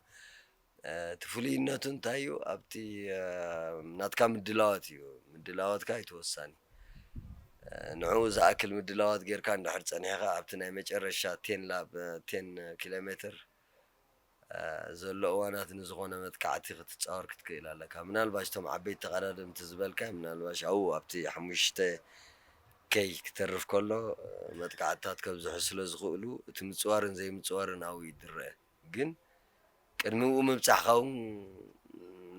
እቲ ፍሉይነቱ እንታይ እዩ ኣብቲ ናትካ ምድላዎት እዩ። ምድላዎትካ እዩ እቲ ወሳኒ። ንዕኡ ዝኣክል ምድላዎት ጌርካ እንድሕር ጸኒሕካ ኣብቲ ናይ መጨረሻ ቴን ላብ ቴን ኪሎሜትር ዘሎ እዋናት ንዝኾነ መጥቃዕቲ ክትጻወር ክትክእል ኣለካ ምናልባሽ እቶም ዓበይቲ ተቐዳደምቲ ዝበልካዮም ምናልባሽ ኣብኡ ኣብቲ ሓሙሽተ K ክተርፍ ከሎ መጥቃዕትታት ከብዝሑ ስለ ዝኽእሉ እቲ ምጽዋርን ዘይምጽዋርን ኣብኡ እዩ ዝረኣ ግን ቅድሚኡ ምብጻሕካ ውን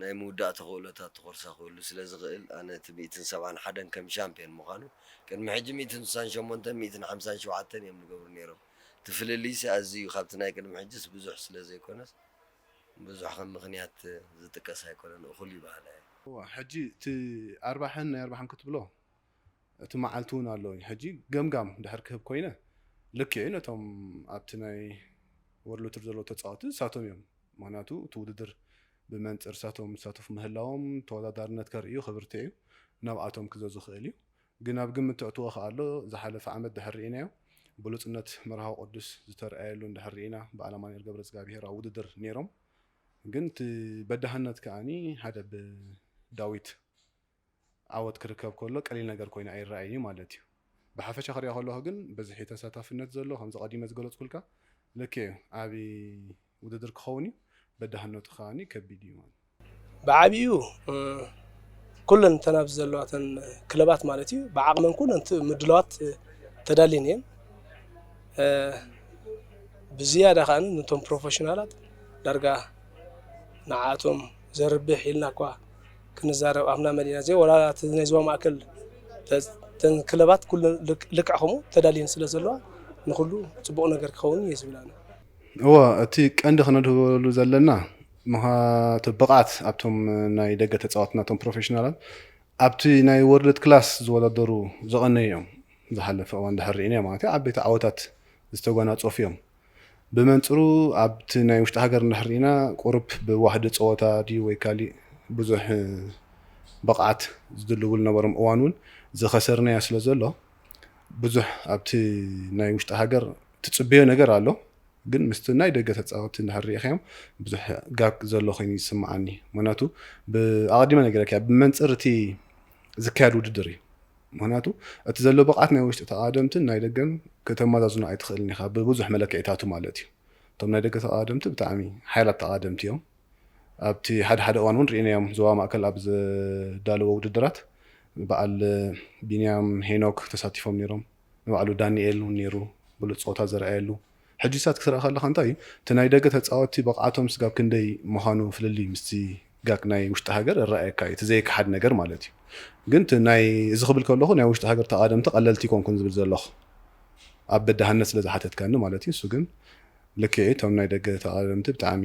ናይ ምውዳእ ተኽእሎታት ተኾርሳ ክህሉ ስለ ዝኽእል ኣነ እቲ ሚእትን ሰብዓን ሓደን ከም ሻምፕዮን ምዃኑ ቅድሚ ሕጂ ሚእትን ስሳን ሸሞንተን ሚእትን ሓምሳን ሸውዓተን እዮም ዝገብሩ ኔሮም እቲ ፍልልይሲ ኣዝዩ ካብቲ ናይ ቅድሚ ሕጂስ ብዙሕ ስለ ዘይኮነስ ብዙሕ ከም ምኽንያት ዝጥቀስ ኣይኮነን እኹል እዩ በሃላይ እየ። እወ ሕጂ እቲ
ኣርባሕን ናይ ኣርባሕን ክትብሎ እቲ መዓልቲ እውን ኣሎ እዩ። ሕጂ ገምጋም ድሕር ክህብ ኮይነ ልክዕ እዩ ነቶም ኣብቲ ናይ ወርልድ ቱር ዘለዉ ተጻወቲ ንሳቶም እዮም ምኽንያቱ እቲ ውድድር ብመንጽር ንሳቶም ዝሳተፉ ምህላዎም ተወዳዳርነት ከርእዩ ክብርትዕ እዩ ናብኣቶም ክዘዙ ክእል እዩ ግን ኣብ ግምት ተእትዎ ክኣሎ ዝሓለፈ ዓመት ድሕር ርኢናዮ ብሉጽነት መርሃዊ ቅዱስ ዝተርኣየሉ እንድሕር ርኢና ብኣል ኣማኑኤል ገብረዝጋብሄር ኣብ ውድድር ኔሮም ግን እቲ በዳህነት ክኣ ሓደ ብ ዳዊት ዓወት ክርከብ ከሎ ቀሊል ነገር ኮይኑ ኣይረኣይን እዩ ማለት እዩ ብሓፈሻ ክሪኦ ከለኩ ግን ብዝሒ ተሳታፍነት ዘሎ ከምዚ ቀዲመ ዝገለጽኩልካ ልክዕ እዩ ዓቢ ውድድር ክኸውን እዩ፣ በዳህነቱ ከኣ ከቢድ እዩ። ብዓቢኡ
ኩለን እተን ኣብዚ ዘለዋተን ክለባት ማለት እዩ ብዓቕመን ኩለን ምድላዋት ተዳልየን እየን። ብዝያዳ ከኣ ነቶም ፕሮፌሽናላት ዳርጋ ንዓኣቶም ዘርብሕ ኢልና እኳ ክንዛረብ ኣፍና መሊእና ዘይ ወላ እቲ ናይ ዞባ ማእከል እተን ክለባት ኩለን ልክዕ ከምኡ ተዳልየን ስለ ዘለዋ ንኹሉ ጽቡቕ ነገር ክኸውን እዩ ዝብል ኣነ። እወ
እቲ ቀንዲ ክነድህበሉ ዘለና ምክንያቱ ብቕዓት ኣብቶም ናይ ደገ ተጻወትና እቶም ፕሮፌሽናላት ኣብቲ ናይ ወርልድ ክላስ ዝወዳደሩ ዝቐነዩ እዮም ዝሓለፈ እዋን ድሕር ርኢናዮ ማለት እዩ ዓበይቲ ዓወታት ዝተጓናጸፉ እዮም ብመንጽሩ ኣብቲ ናይ ውሽጢ ሃገር እንድሕር ርኢና ቁሩብ ብዋሕዲ ጸወታ ድዩ ወይ ካሊእ ብዙሕ ብቕዓት ዝድልብሉ ነበሮም እዋን እውን ዝኸሰርናዮ ስለ ዘሎ ብዙሕ ኣብቲ ናይ ውሽጢ ሃገር ትጽበዮ ነገር ኣሎ ግን ምስቲ ናይ ደገ ተጻወቲ እንድሕር ርኢኻዮም ብዙሕ ጋብ ዘሎ ኮይኑ ይስምዓኒ ምክንያቱ ኣቐዲመ ነገረካ ብመንጽር እቲ ዝካየድ ውድድር እዩ ምክንያቱ እቲ ዘሎ ብቕዓት ናይ ውሽጢ ተቓደምትን ናይ ደገን ከተመዛዝኖ ኣይትኽእልን ኢኻ ብብዙሕ መለክዒታቱ ማለት እዩ እቶም ናይ ደገ ተቓደምቲ ብጣዕሚ ሓይላት ተቓደምቲ እዮም ኣብቲ ሓደ ሓደ እዋን እውን ርኢናዮም ዞባ ማእከል ኣብ ዘዳለዎ ውድድራት በዓል ቢንያም ሄኖክ ተሳቲፎም ነይሮም ንባዕሉ ዳኒኤል ውን ኔሩ ብሉጽ ጸወታ ዘርኣየሉ። ሕጂሳት ክትርኢ ከለኻ እንታይ እዩ እቲ ናይ ደገ ተጻወትቲ ብቕዓቶም ስጋብ ክንደይ ምዃኑ ፍልልይ ምስቲ ጋግ ናይ ውሽጢ ሃገር እረኣየካ እዩ እቲ ዘይከሓድ ነገር ማለት እዩ ግን እቲ ናይ እዚ ክብል ከለኹ ናይ ውሽጢ ሃገር ተቓደምቲ ቀለልቲ ኣይኮንኩን ዝብል ዘለኹ ኣብ በዳህነት ስለ ዝሓተትካኒ ማለት እዩ ንሱ ግን ልክዕ እዩ እቶም ናይ ደገ ተቓደምቲ ብጣዕሚ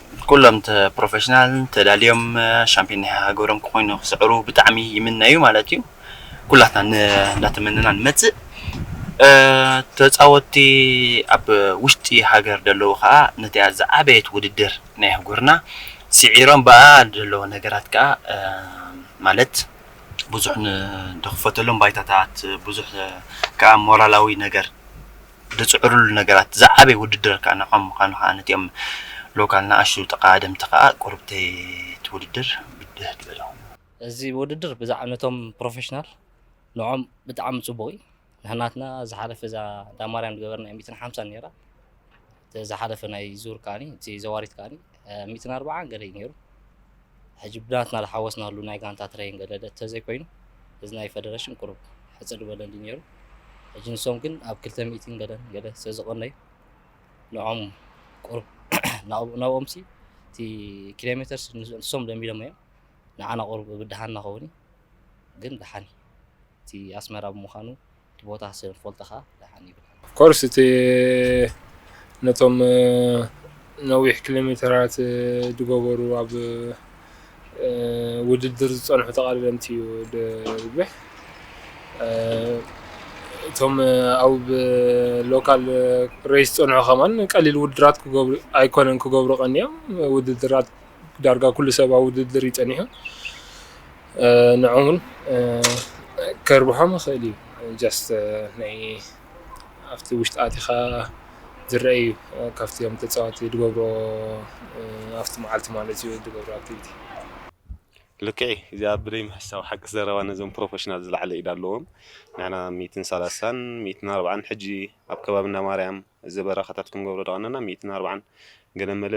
ኩሎም ፕሮፈሽናል ተዳልዮም ሻምፒዮን ናይ ሃገሮም ክኾይኑ ክስዕሩ ብጣዕሚ ይምነዩ ማለት እዩ። ኩላትና እንዳተመነና ንመጽእ ተጻወቲ ኣብ ውሽጢ ሃገር ደለዉ ከኣ ነቲኣ ዝዓበየት ውድድር ናይ ኣህጉርና ሲዒሮም ብኣኣ ደለዉ ነገራት ከኣ ማለት ብዙሕ ንክፈተሎም ባይታታት ብዙሕ ከኣ ሞራላዊ ነገር ድጽዕርሉ ነገራት ዝዓበየ ውድድር ከኣ ንዖም ምኻኑ ከኣ ነቲኦም ሎካል ንኣሽቱ ተቓደምቲ ከኣ ቁርብተይ እቲ ውድድር ብድህ ድበለ ኮይኑ። እዚ ውድድር
ብዛዕባ ነቶም ፕሮፈሽናል ንዖም ብጣዕሚ ጽቡቕ እዩ ንሕናትና ዝሓለፈ እዛ ዳማርያም ድገበርናያ ሚእትን ሓምሳን ኔራ እቲ ዝሓለፈ ናይ ዙር ከኣ እቲ ዘዋሪት ከኣ ሚእትን ኣርባዓን ገለ እዩ ነይሩ ሕጂ ብናትና ዝሓወስናሉ ናይ ጋንታ ትረይን ገለ እንተዘይኮይኑ እዚ ናይ ፈደረሽን ቁሩብ ሕጽር ዝበለ እንዲ ነይሩ ሕጂ ንሶም ግን ኣብ ክልተ ሚእትን ገለን ገለ ስለዝቐነዩ ንዖም ቁሩብ ናብኦም ሲ እቲ ኪሎ ሜትር ንሶም ለሚዶም እዮም ንዓና ቁሩብ ብድሃን ናኸውን ግን ድሓን እቲ ኣስመራ ብምዃኑ እቲ ቦታ ስለ ትፈልጦ ከኣ ደሓን ይብል። Of course እቲ
ነቶም ነዊሕ ኪሎሜተራት ዝገበሩ ኣብ ውድድር ዝጸንሑ ተቐዳደምቲ እዩ ዝርብሕ። እቶም ኣብ ሎካል ሬስ ዝጸንሑ ከማን ቀሊል ውድድራት ክገብሩ ኣይኮነን ክገብሩ ቀንዮም ውድድራት ዳርጋ ኩሉ ሰብ ኣብ ውድድር እዩ ጸኒሑ። ንዕኡውን ከርብሖም ይኽእል እዩ ጀስት ናይ ኣብቲ ውሽጢ ኣቲኻ ዝረአ እዩ ካብቲ እቶም ተፃወቲ ዝገብርዎ ኣብቲ መዓልቲ ማለት እዩ ዝገብርዎ ኣክቲቪቲ።
ልክዕ እዩ እዚኣ ብደይ ምሕሳው ሓቂ ዘረባ ነዞም ፕሮፈሽናል ዝለዓለ ኢድ ኣለዎም ንሕና ሚእትን ሰላሳን ሚእትን ኣርብዓን ሕጂ ኣብ ከባቢ እንዳማርያም ዘበራኻታት ክንገብሮ ዝቐነና ሚእትን ኣርብዓን ገለመለ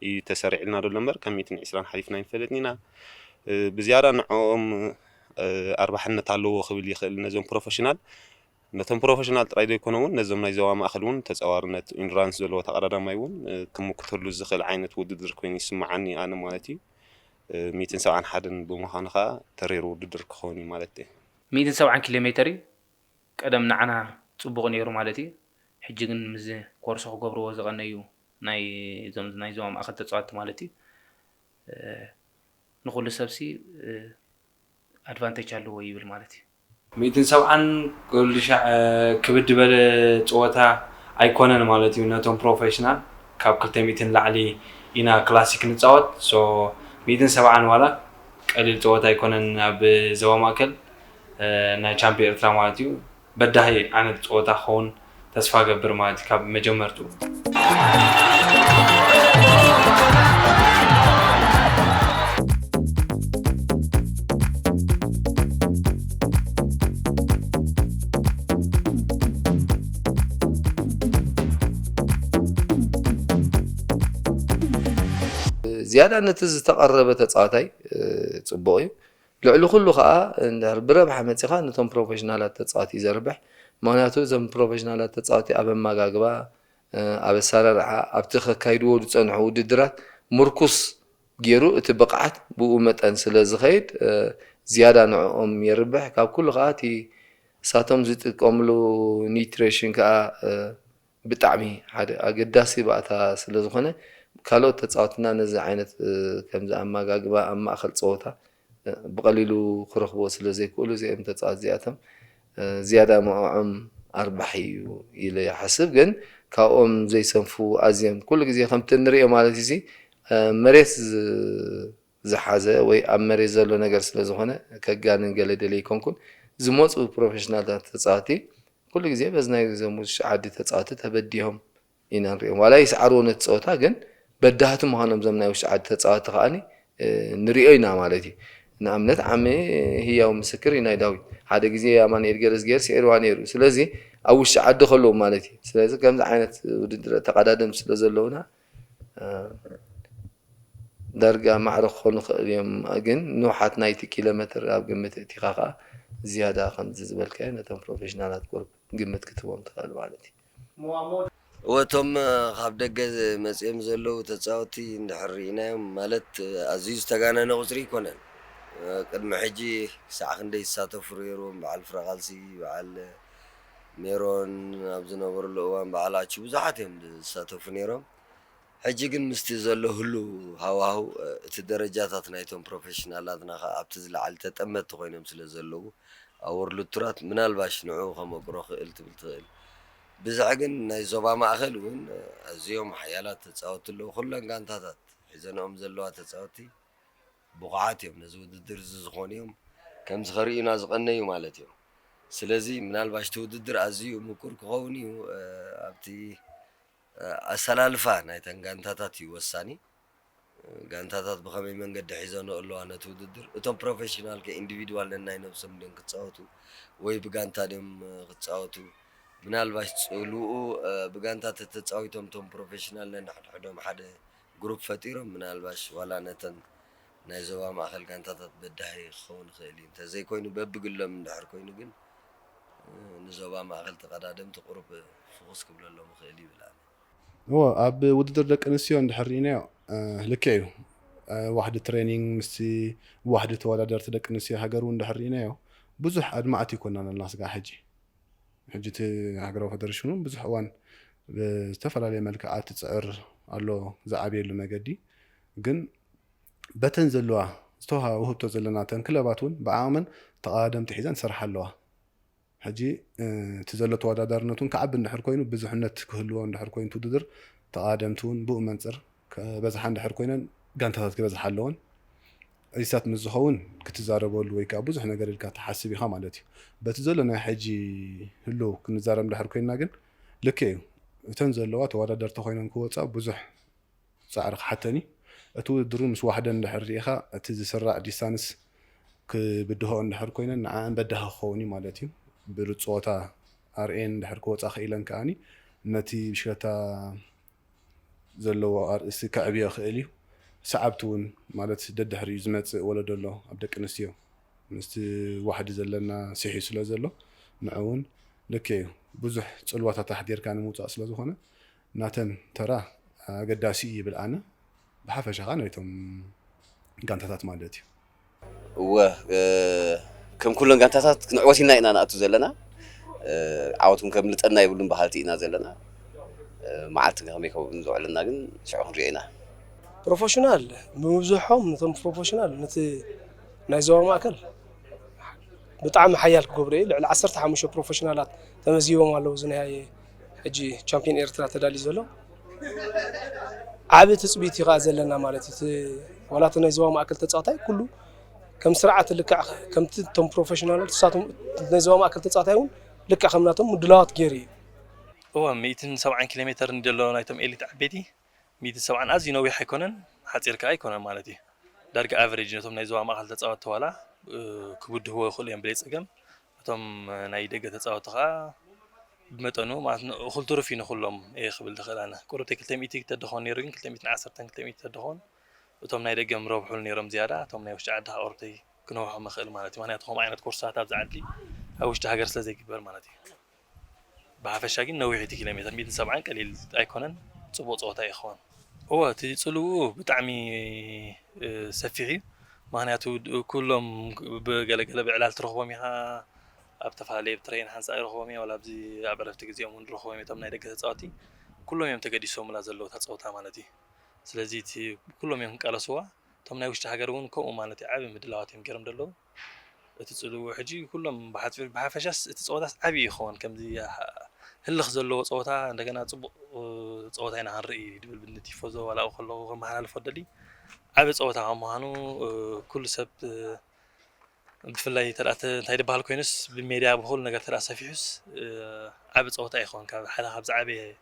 እዩ ተሰሪዕልና ዘሎ እምበር ካብ ሚእትን ዕስራን ሓሊፍና ኣይንፈልጥን ኢና። ብዝያዳ ንዕኦም ኣርባሕነት ኣለዎ ክብል ይኽእል ነዞም ፕሮፈሽናል ነቶም ፕሮፈሽናል ጥራይ ዘይኮነ እውን ነዞም ናይ ዞባ ማእከል እውን ተጻዋርነት ኢንዱራንስ ዘለዎ ተቐዳዳማይ እውን ክምክተሉ ዝኽእል ዓይነት ውድድር ኮይኑ ይስምዓኒ ኣነ ማለት እዩ። ሚእትን ሰብዓን ሓደን ብምዃኑ ከኣ ተሪር ውድድር ክኸውን እዩ ማለት እዩ። ሚእትን ሰብዓን ኪሎ ሜተር
እዩ ቀደም ንዓና ጽቡቕ ነይሩ ማለት እዩ። ሕጂ ግን ምስዚ ኮርስ ክገብርዎ ዝቐነዩ ናይ እዞም ናይ ዞባ ማእከል ተጻወትቲ ማለት እዩ ንኹሉ ሰብሲ ኣድቫንተች ኣለዎ ይብል ማለት እዩ። ሚእትን ሰብዓን
ክልሻዕ ክብድ በለ ጸወታ ኣይኮነን ማለት እዩ ነቶም ፕሮፈሽናል ካብ ክልተ ሚእቲ ንላዕሊ ኢና ክላሲክ ንጻወት so ሚእትን ሰብዓን ዋላ ቀሊል ጸወታ ኣይኮነን ኣብ ዞባ ማእከል ናይ ቻምፕ ኤርትራ ማለት እዩ በዳሂ ዓይነት ጸወታ ክኸውን ተስፋ እገብር ማለት እዩ ካብ መጀመርትኡ።
ዝያዳ ነቲ ዝተቐረበ ተጻዋታይ ጽቡቕ እዩ። ልዕሊ ኩሉ ከኣ እንድሕር ብረብሓ መጺኻ ነቶም ፕሮፈሽናላት ተጻወቲ እዩ ዘርብሕ ምኽንያቱ እዞም ፕሮፈሽናላት ተጻወቲ ኣብ ኣማጋግባ ኣብ ኣሳራርሓ ኣብቲ ከካይድዎ ዝጸንሑ ውድድራት ምርኩስ ጌሩ እቲ ብቕዓት ብኡ መጠን ስለ ዝኸይድ ዝያዳ ንዕኦም የርብሕ ካብ ኩሉ ከኣ እቲ እሳቶም ዝጥቀምሉ ኒትሬሽን ከኣ ብጣዕሚ ሓደ ኣገዳሲ ባእታ ስለዝኾነ ካልኦት ተጻወትና ነዚ ዓይነት ከምዚ ኣማጋግባ ኣብ ማእኸል ጸወታ ብቐሊሉ ክረኽብዎ ስለዘይክእሉ እዚኦም ተጻወት እዚኣቶም ዝያዳ ምዕዖም ኣርባሒ እዩ ኢለ ይሓስብ ግን ካብኦም ዘይሰንፉ ኣዝዮም ኩሉ ግዜ ከምቲ እንርእዮ ማለት እዩዚ መሬት ዝሓዘ ወይ ኣብ መሬት ዘሎ ነገር ስለ ዝኾነ ከጋንን ገለ ደልየ ኣይኮንኩን። ዝመጹ ፕሮፌሽናልታት ተጻወቲ ኩሉ ግዜ በዚ ናይ እዞም ውሽጢ ዓዲ ተጻወቲ ተበዲሆም ኢና ንርእዮም። ዋላ ይስዓርዎ ነቲ ጸወታ ግን በዳህቲ ምዃኖም እዞም ናይ ውሽጢ ዓዲ ተጻወቲ ከኣ ንርእዮ ኢና ማለት እዩ። ንኣብነት ዓሚ ህያው ምስክር እዩ ናይ ዳዊት። ሓደ ግዜ ኣማኑኤል ገረዝጊሄር ስዒርዋ ነይሩ። ስለዚ ኣብ ውሽጢ ዓዲ ከለዉ ማለት እዩ። ስለዚ ከምዚ ዓይነት ውድድራት ተቐዳደምቲ ስለ ዘለዉና ዳርጋ ማዕረ ክኾኑ ይኸእሉ እዮም ግን ንውሓት ናይቲ ኪሎ መትር ኣብ ግምት እእቲኻ ከኣ ዝያዳ ከምዚ ዝበልካዮ ነቶም ፕሮፌሽናላት ቁርብ ግምት ክትህቦም ትኸእል ማለት እዩ።
እወ እቶም ካብ ደገ መጺኦም ዘለዉ ተጻወቲ እንድሕር ርኢናዮም ማለት ኣዝዩ ዝተጋነነ ቁጽሪ ኣይኮነን ቅድሚ ሕጂ ክሳዕ ክንደይ ይሳተፉ ርየርዎም በዓል ፍረቃልሲ በዓል ሜሮን ኣብ ዝነበርሉ እዋን በዓል ኣቹ ብዙሓት እዮም ዝሳተፉ ነይሮም። ሕጂ ግን ምስቲ ዘሎ ህሉው ሃዋህው እቲ ደረጃታት ናይቶም ፕሮፌሽናላትና ከኣ ኣብቲ ዝለዓል ተጠመትቲ ኮይኖም ስለ ዘለዉ ኣብ ዎርልድ ቱራት ምናልባሽ ንዕኡ ከመቅሮ ክእል ትብል ትክእል ብዝሕ ግን ናይ ዞባ ማእከል ውን ኣዝዮም ሓያላት ተጻወትቲ ኣለዉ ኩለን ጋንታታት ሒዘንኦም ዘለዋ ተጻወትቲ ብቑዓት እዮም፣ ነዚ ውድድር እዚ ዝኾኑ እዮም፣ ከምዚ ከርእዩና ዝቐነዩ ማለት እዮም። ስለዚ ምናልባሽ እቲ ውድድር ኣዝዩ ምቁር ክኸውን እዩ፣ ኣብቲ ኣሰላልፋ ናይተን ጋንታታት እዩ ወሳኒ፣ ጋንታታት ብኸመይ መንገዲ ሒዘንኦ ኣለዋ ነቲ ውድድር፣ እቶም ፕሮፌሽናል ከ ኢንዲቪድዋል ነናይ ነብሶም ድዮም ክጻወቱ ወይ ብጋንታ ድዮም ክጻወቱ፣ ምናልባሽ ጽልውኡ ብጋንታ ተተጻዊቶም እቶም ፕሮፌሽናል ነንሕድሕዶም ሓደ ግሩፕ ፈጢሮም ምናልባሽ ዋላ ነተን ናይ ዞባ ማእከል ጋንታታት በዳሂ ክኸውን ይኽእል እዩ። እንተዘይኮይኑ በብግሎም እንድሕር ኮይኑ ግን ንዞባ ማእከል ተቐዳደምቲ ቁሩብ ፍኹስ ክብለሎም ይኽእል እዩ ይብል ኣነ። እወ ኣብ
ውድድር ደቂ ኣንስትዮ እንድሕር ርኢናዮ ልክዕ እዩ። ዋሕዲ ትሬኒንግ ምስቲ ዋሕዲ ተወዳደርቲ ደቂ ኣንስትዮ ሃገር እውን እንድሕር ርኢናዮ ብዙሕ ኣድማዕቲ ኣይኮናን ኣለና ስጋዕ ሕጂ። ሕጂ እቲ ሃገራዊ ፈደረሽን እውን ብዙሕ እዋን ብዝተፈላለየ መልክዓት ይፅዕር ኣሎ ዝዓብየሉ መገዲ ግን በተን ዘለዋ ዝተውሃባ ውህብቶ ዘለና እተን ክለባት እውን ብዓቕመን ተቐዳደምቲ ሒዘን ይሰርሓ ኣለዋ ሕጂ እቲ ዘሎ ተወዳዳርነት እውን ክዓቢ እንድሕር ኮይኑ ብዙሕነት ክህልዎ እንድሕር ኮይኑ ውድድር ተቐዳደምቲ እውን ብኡ መንፅር ክበዝሓ እንድሕር ኮይነን ጋንታታት ክበዝሓ ኣለወን። እዚታት ምስ ዝኸውን ክትዛረበሉ ወይ ከኣ ብዙሕ ነገር ኢልካ ትሓስብ ኢኻ ማለት እዩ። በቲ ዘሎ ናይ ሕጂ ህሉው ክንዛረብ እንድሕር ኮይንና ግን ልክዕ እዩ እተን ዘለዋ ተወዳደርቲ ኮይነን ክወጻ ብዙሕ ጻዕሪ ክሓተን እዩ። እቲ ውድድር እውን ምስ ዋሕደን እንድሕር ርኢኻ እቲ ዝስራዕ ዲስታንስ ክብድህኦ እንድሕር ኮይነን ንዐኣን በዳሂ ክኸውን እዩ ማለት እዩ። ብሉጽ ጸወታ ኣርእየን እንድሕር ክወጻ ክኢለን ከኣ ነቲ ብሽክለታ ዘለዎ ኣርእስቲ ከዕብዮ ይኽእል እዩ። ሰዓብቲ እውን ማለት ደድሕሪኡ ዝመፅእ ወለዶ ኣሎ ኣብ ደቂ ኣንስትዮ ምስቲ ዋሕዲ ዘለና ሲሒቡ ስለ ዘሎ ንዑ እውን ልክዕ እዩ ብዙሕ ፅልዋታት ኣሕዲርካ ንምውፃእ ስለ ዝኾነ ናተን ተራ ኣገዳሲ እዩ ይብል ኣነ። ብሓፈሻ ከኣ ናይቶም ጋንታታት ማለት እዩ። እወ
ከም ኩለን ጋንታታት ክንዕወት ኢልና ኢና ንኣቱ ዘለና። ዓወት እውን ከምልጠና የብሉን በሃልቲ ኢና ዘለና። መዓልቲ ከመይ ከም ዘውዕለና ግን ሽዑ ክንሪኦ ኢና። ፕሮፈሽናል
ብምብዝሖም ነቶም ፕሮፈሽናል ነቲ ናይ ዞባ ማእከል ብጣዕሚ ሓያል ክገብሮ እዩ። ልዕሊ ዓሰርተ ሓሙሽተ ፕሮፈሽናላት ተመዝጊቦም ኣለዉ እዚ ናይ ሕጂ ቻምፕዮን ኤርትራ ተዳልዩ ዘሎ ዓቢ ትጽቢት እዩ ዘለና ማለት እቲ ዋላ እቲ ናይ ዞባ ማእከል ተጻዋታይ ኩሉ ከም ስርዓት ልክዕ ከምቲ እቶም ፕሮፌሽናል ንሳቶም ናይ ዞባ ማእከል ተፃዋታይ እውን ልክዕ ከም ናቶም ምድላዋት ገይሩ እዩ እወ ሚእትን
ሰብዓን ኪሎ ሜተር እንድዮ ኣሎ ናይቶም ኤሊት ዓበይቲ ሚእትን ሰብዓን ኣዝዩ ነዊሕ ኣይኮነን ሓጺር ከኣ ኣይኮነን ማለት እዩ ዳርጋ ኣቨሬጅ ነቶም ናይ ዞባ ማእከል ተጻወትቲ ዋላ ክብድህዎ ይኽእሉ እዮም ብለይ ጸገም እቶም ናይ ደገ ተጻወቲ ከኣ ብመጠኑ ማለት ን እኹል ትሩፍ እዩ ንኹሎም እየ ክብል ዝኽእል ኣነ ቁሩብተይ ክልተ ሚእቲ ተደኾን ነይሩ ግን ክልተ ሚእትን ዓሰርተን ክልተ ሚእቲ ተደኾን እቶም ናይ ደገ ምረብሑሉ ነይሮም ዝያዳ እቶም ናይ ውሽጢ ዓዲ ከኣ ቁሩብተይ ክነውሖም እኽእል ማለት እዩ ምክንያቱ ከምኡ ዓይነት ኮርሳት ኣብዚ ዓዲ ኣብ ውሽጢ ሃገር ስለ ዘይግበር ማለት እዩ። ብሓፈሻ ግን ነዊሕ እቲ ኪሎ ሜተር ሚእትን ሰብዓን ቀሊል ኣይኮነን ጽቡቅ ጸወታ እዩ ክኸውን። እወ እቲ ጽልውኡ ብጣዕሚ ሰፊሕ እዩ ምክንያቱ ኩሎም ብገለ ገለ ብዕላል ትረኽቦም ኢኻ ኣብ ተፈላለየ ብ ትረይን ሓንሳእ ይረኽቦም እየ ዋላ ኣብዚ ኣብ ዕረፍቲ ግዜኦም ውን ንረኽቦም እየ እቶም ናይ ደገ ተጻወቲ ኩሎም እዮም ተገዲሶሙላ ዘለዉ እታ ጸወታ ማለት እዩ ስለዚ እቲ ኩሎም እዮም ክቃለስዋ እቶም ናይ ውሽጢ ሃገር ውን ከምኡ ማለት እዩ ዓቢ ምድላዋት እዮም ጌሮም ደለዉ። እቲ ጽልዎ ሕጂ ኩሎም ብሓጺሩ ብሓፈሻስ እቲ ጸወታስ ዓቢ እዩ ክኸውን ከምዚ ህልኽ ዘለዎ ጸወታ እንደገና ጽቡቕ ጸወታ ኢና ክንርኢ ድብል ንቲፎዞ ዋላኡ ከለኹ ከመሓላልፎ ደሊ ዓቢ ጸወታ ካብ ምዃኑ ኩሉ ሰብ ብፍላይ ተኣ እንታይ ድበሃል ኮይኑስ ብሜድያ ብኹሉ ነገር ተኣ ሰፊሑስ ዓቢ ጸወታ ይኸውን ካብ ሓደ ካብ ዝዓበየ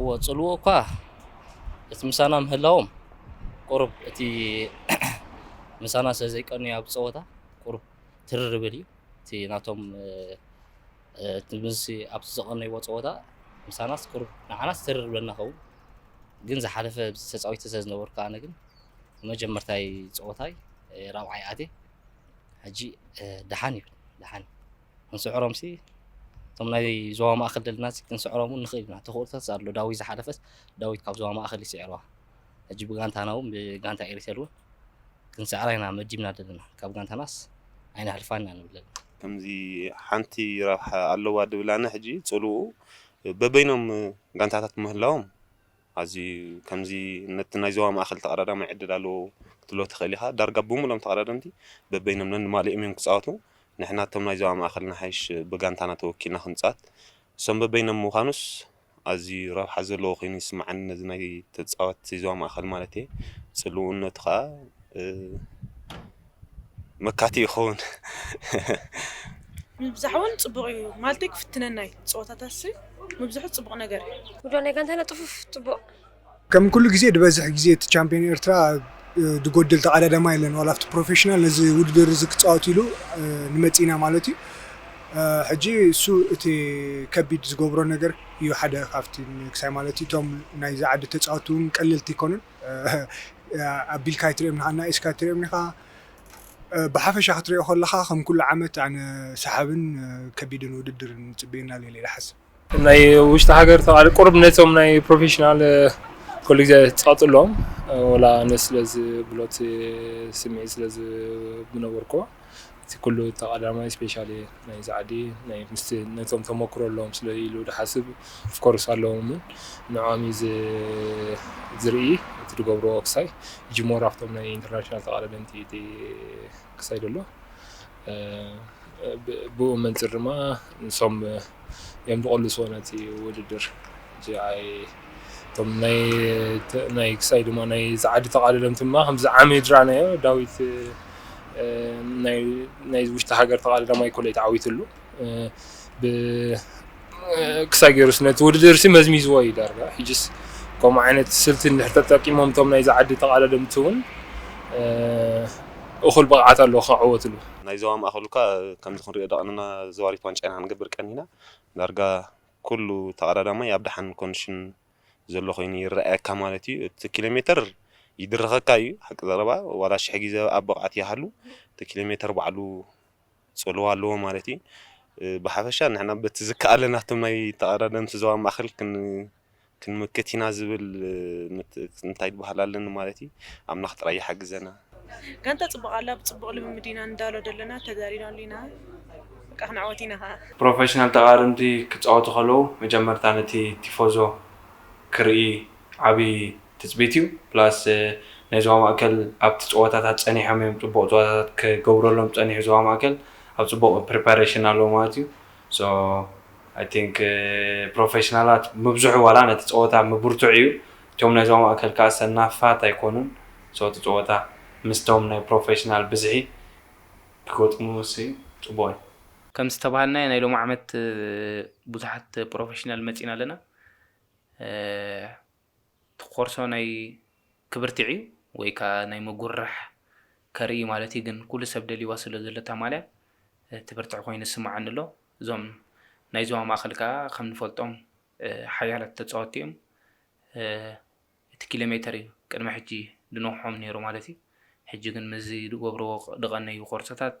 እዎ ጽልዎ እኳ እቲ ምሳና ምህላዎም ቁሩብ እቲ ምሳና ስለ ዘይቀንዩ ኣብ ጸወታ ቁሩብ ትርር ይብል እዩ እቲ ናቶም እቲ ምስ ኣብቲ ዘቐነይዎ ጸወታ ምሳናስ ቁሩብ ንዓናስ ትርር ይብለና ኸውን ግን ዝሓለፈ ተጻዊተ ስለ ዝነበርኩ ኣነ ግን መጀመርታይ ጸወታይ ራብዓይ ኣትየ ሕጂ ደሓን ይብል ደሓን ክንስዕሮም ሲ እቶም ናይ ዞባ ማእኸል ደለና ሲ ክንስዕሮም እውን ንኽእል ኢና ተኽእሎታት ኣሎ ዳዊት ዝሓለፈስ ዳዊት ካብ ዞባ ማእኸል ይስዕርዋ ሕጂ ብጋንታና እውን ብጋንታ ኤሪተል እውን ክንስዕራ ኢና መዲብና ደለና ካብ ጋንታናስ ኣይነሕልፋን ኢና ንብል ዘለና ከምዚ
ሓንቲ ረብሓ ኣለዋ ድብል ኣነ ሕጂ ፅልኡ በበይኖም ጋንታታት ምህላዎም ኣዚ ከምዚ ነቲ ናይ ዞባ ማእከል ተቐዳዳማይ ዕድል ኣለዎ ክትብሎ ትኽእል ኢኻ። ዳርጋ ብምሉኦም ተቐዳደምቲ በበይኖም ነንማልኦም እዮም ክጻወቱ። ንሕና እቶም ናይ ዞባ ማእከል ንሓይሽ ብጋንታና ተወኪልና ክንጻወት። እሶም በበይኖም ምዃኑስ ኣዚ ረብሓ ዘለዎ ኮይኑ ይስምዓኒ ነዚ ናይ ተጻወትቲ ዞባ ማእከል ማለትየ። ጽልውኡነቱ ከኣ። መካቲ ይኸውን።
ምብዛሕ ውን ጽቡቅ ኢዩ ማልተይ ክፍትነናይ ጸወታታትሲ ምብዝሑ ጽቡቅ ነገር ኢዩ። ጉጅለ ናይ ጋንታና ጽፉፍ
ጽቡቅ። ከም ኩሉ
ግዜ ድበዝሕ ግዜ እቲ ቻምፕዮን ኤርትራ ድጎድል ተቃዳዳማይ የለን ዋላ ኣብቲ ፕሮፌሽናል ነዚ ውድድር እዚ ክጻወት ኢሉ ንመጺና ማለት እዩ ሕጂ እሱ እቲ ከቢድ ዝገብሮ ነገር እዩ ሓደ ካብቲ ክሳይ ማለት እዩ እቶም ናይዚ ዓዲ ተጻወቲ ውን ቀለልቲ ኣይኮኑን ኣቢልካ ኣይትሪኦምን ኢኻ ኣናኢስካ ኣይትሪኦምን ኢኻ ብሓፈሻ ክትሪኦ ከለኻ ከም ኩሉ ዓመት ኣነ ሰሓብን ከቢድን ውድድር ንፅበየና ኣሎ ኢለ ይሓስብ ናይ ውሽጢ
ሃገር ተቃሪ ቁርብ ነቶም ናይ ፕሮፌሽናል ኩሉ ግዜ ትቀፅሎም ወላ ኣነ ስለዚ ብሎት ስምዒት ስለዚ ምነበርኩ እቲ ኩሉ እቲ ቀዳማይ ስፔሻሊ ናይ ጻዕዲ ናይ ምስቲ ነቶም ተመክሮ ኣለዎም ስለ ኢሉ ድሓስብ ኦፍኮርስ ኣለዎምን ንዖም እዩ ዝርኢ እቲ ድገብርዎ ክሳይ እጂ ሞር ኣብቶም ናይ ኢንተርናሽናል ተቃዳደምቲ እዩ እቲ ክሳይ ደሎ ብኡ መንጽር ድማ ንሶም እዮም ዝቕልስዎ ነቲ ውድድር ጂኣይ እቶም ናይ ክሳይ ድማ ናይ ዛዓዲ ተቓልለምቲ ድማ ከምዚ ዓሚ ድራናዮ ዳዊት ናይ ውሽጢ ሃገር ተቓልለማ ይኮለይ ተዓዊትሉ ክሳይ ገይሩስ ነቲ ውድድር ሲ መዝሚዝዎ እዩ ዳርጋ ሕጅስ ከምኡ ዓይነት ስልቲ እንድሕር ተጠቂሞም እቶም ናይ ዛዓዲ ተቓልለምቲ እውን እኹል ብቕዓት ኣለዎ ክዕወትሉ ናይ ዞባ ማእኸል
እኳ ከምዚ ክንሪኦ ደቐንና ዞባ ሪፍ ዋንጫ ኢና ክንገብር ቀኒና፣ ዳርጋ ኩሉ ተቐዳዳማይ ኣብ ደሓን ኮንድሽን ዘሎ ኮይኑ ይረኣየካ ማለት እዩ። እቲ ኪሎ ሜተር ይድርኸካ እዩ ሓቂ ዘረባ ዋላ ሽሕ ግዜ ኣብ ብቕዓት ይሃሉ እቲ ኪሎ ሜተር ባዕሉ ፅልዋ ኣለዎ ማለት እዩ። ብሓፈሻ ንሕና በቲ ዝከኣለና እቶም ናይ ተቐዳደምቲ ዞባ ማእኸል ክንምክት ኢና ዝብል እንታይ በሃል ኣለኒ ማለት እዩ ኣምላኽ ጥራይ ይሓግዘና። ጋንታ ጽቡቅ
ኣላ ብጽቡቅ ልምምድ ኢና ንዳሎ ደለና ተጋሪናሉ ኢና በቃ ክንዕወት ኢና ከኣ። ፕሮፈሽናል ተቓርንቲ
ክጻወቱ ከለዉ መጀመርታ ነቲ ቲፎዞ ክርኢ ዓቢ ትጽቢት እዩ ፕላስ ናይ ዞባ ማእከል ኣብቲ ጸወታታት ጸኒሖም እዮም ጽቡቕ ጸወታታት ክገብረሎም ጸኒሑ ዞባ ማእከል ኣብ ጽቡቕ ፕሪፓረሽን ኣለዉ ማለት እዩ So I think ፕሮፈሽናላት ምብዝሑ ዋላ ነቲ ጸወታ ምብርትዑ እዩ እቶም ናይ ዞባ ማእከል ከኣ ሰናፋት ኣይኮኑን so እቲ ጸወታ ምስቶም ናይ ፕሮፈሽናል ብዝሒ ክገጥሙሲ ጽቡቕ እዩ። ከም ዝተባሃልናዮ
ናይ ሎሚ ዓመት ብዙሓት ፕሮፈሽናል መጺና ኣለና። ትቆርሶ ናይ ክብርቲ ዕዩ ወይ ካኣ ናይ ምጉርራሕ ከርኢ ማለት እዩ ግን ኩሉ ሰብ ደልይዋ ስለ ዘሎ እታ ማልያ ትብርትዕ ኮይኑ ይስማዓኒ ኣሎ እዞም ናይ ዞባ ማእከል ካኣ ከም ንፈልጦም ሓያላት ተጻወቲ እዮም እቲ ኪሎሜተር እዩ ቅድሚ ሕጂ ድነውሖም ነይሩ ማለት እዩ ሕጂ ግን ምስዚ ድገብርዎ ድቀነዩ ቆርሶታት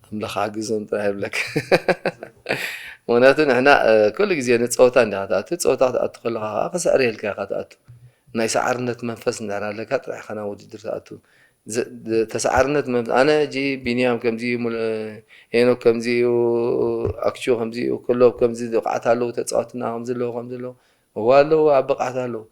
ኣምላኽ ኣግዞም ጥራሕ ይብለካ ምክንያቱ ንሕና ኩሉ ግዜ ንፀወታ እንዲኻ ትኣቱ ፀወታ ክትኣቱ ከለካ ከዓ ክስዕረየልካ ኢካ ትኣቱ ናይ ሰዓርነት መንፈስ እንድሕር ኣለካ ጥራሕ ኢካ ናብ ውድድር ትኣቱ ተሰዓርነት መንፈስ ኣነ ሕጂ ቢንያም ከምዚ እዩ ሄኖክ ከምዚ እዩ ኣክቹ ከምዚ እዩ ክሎብ ከምዚ ብቕዓት ኣለዉ ተፃወትና ከምዚ ኣለዉ ከምዚ ኣለዉ እዋ ኣለዉ ኣብ ብቕዓት ኣለዉ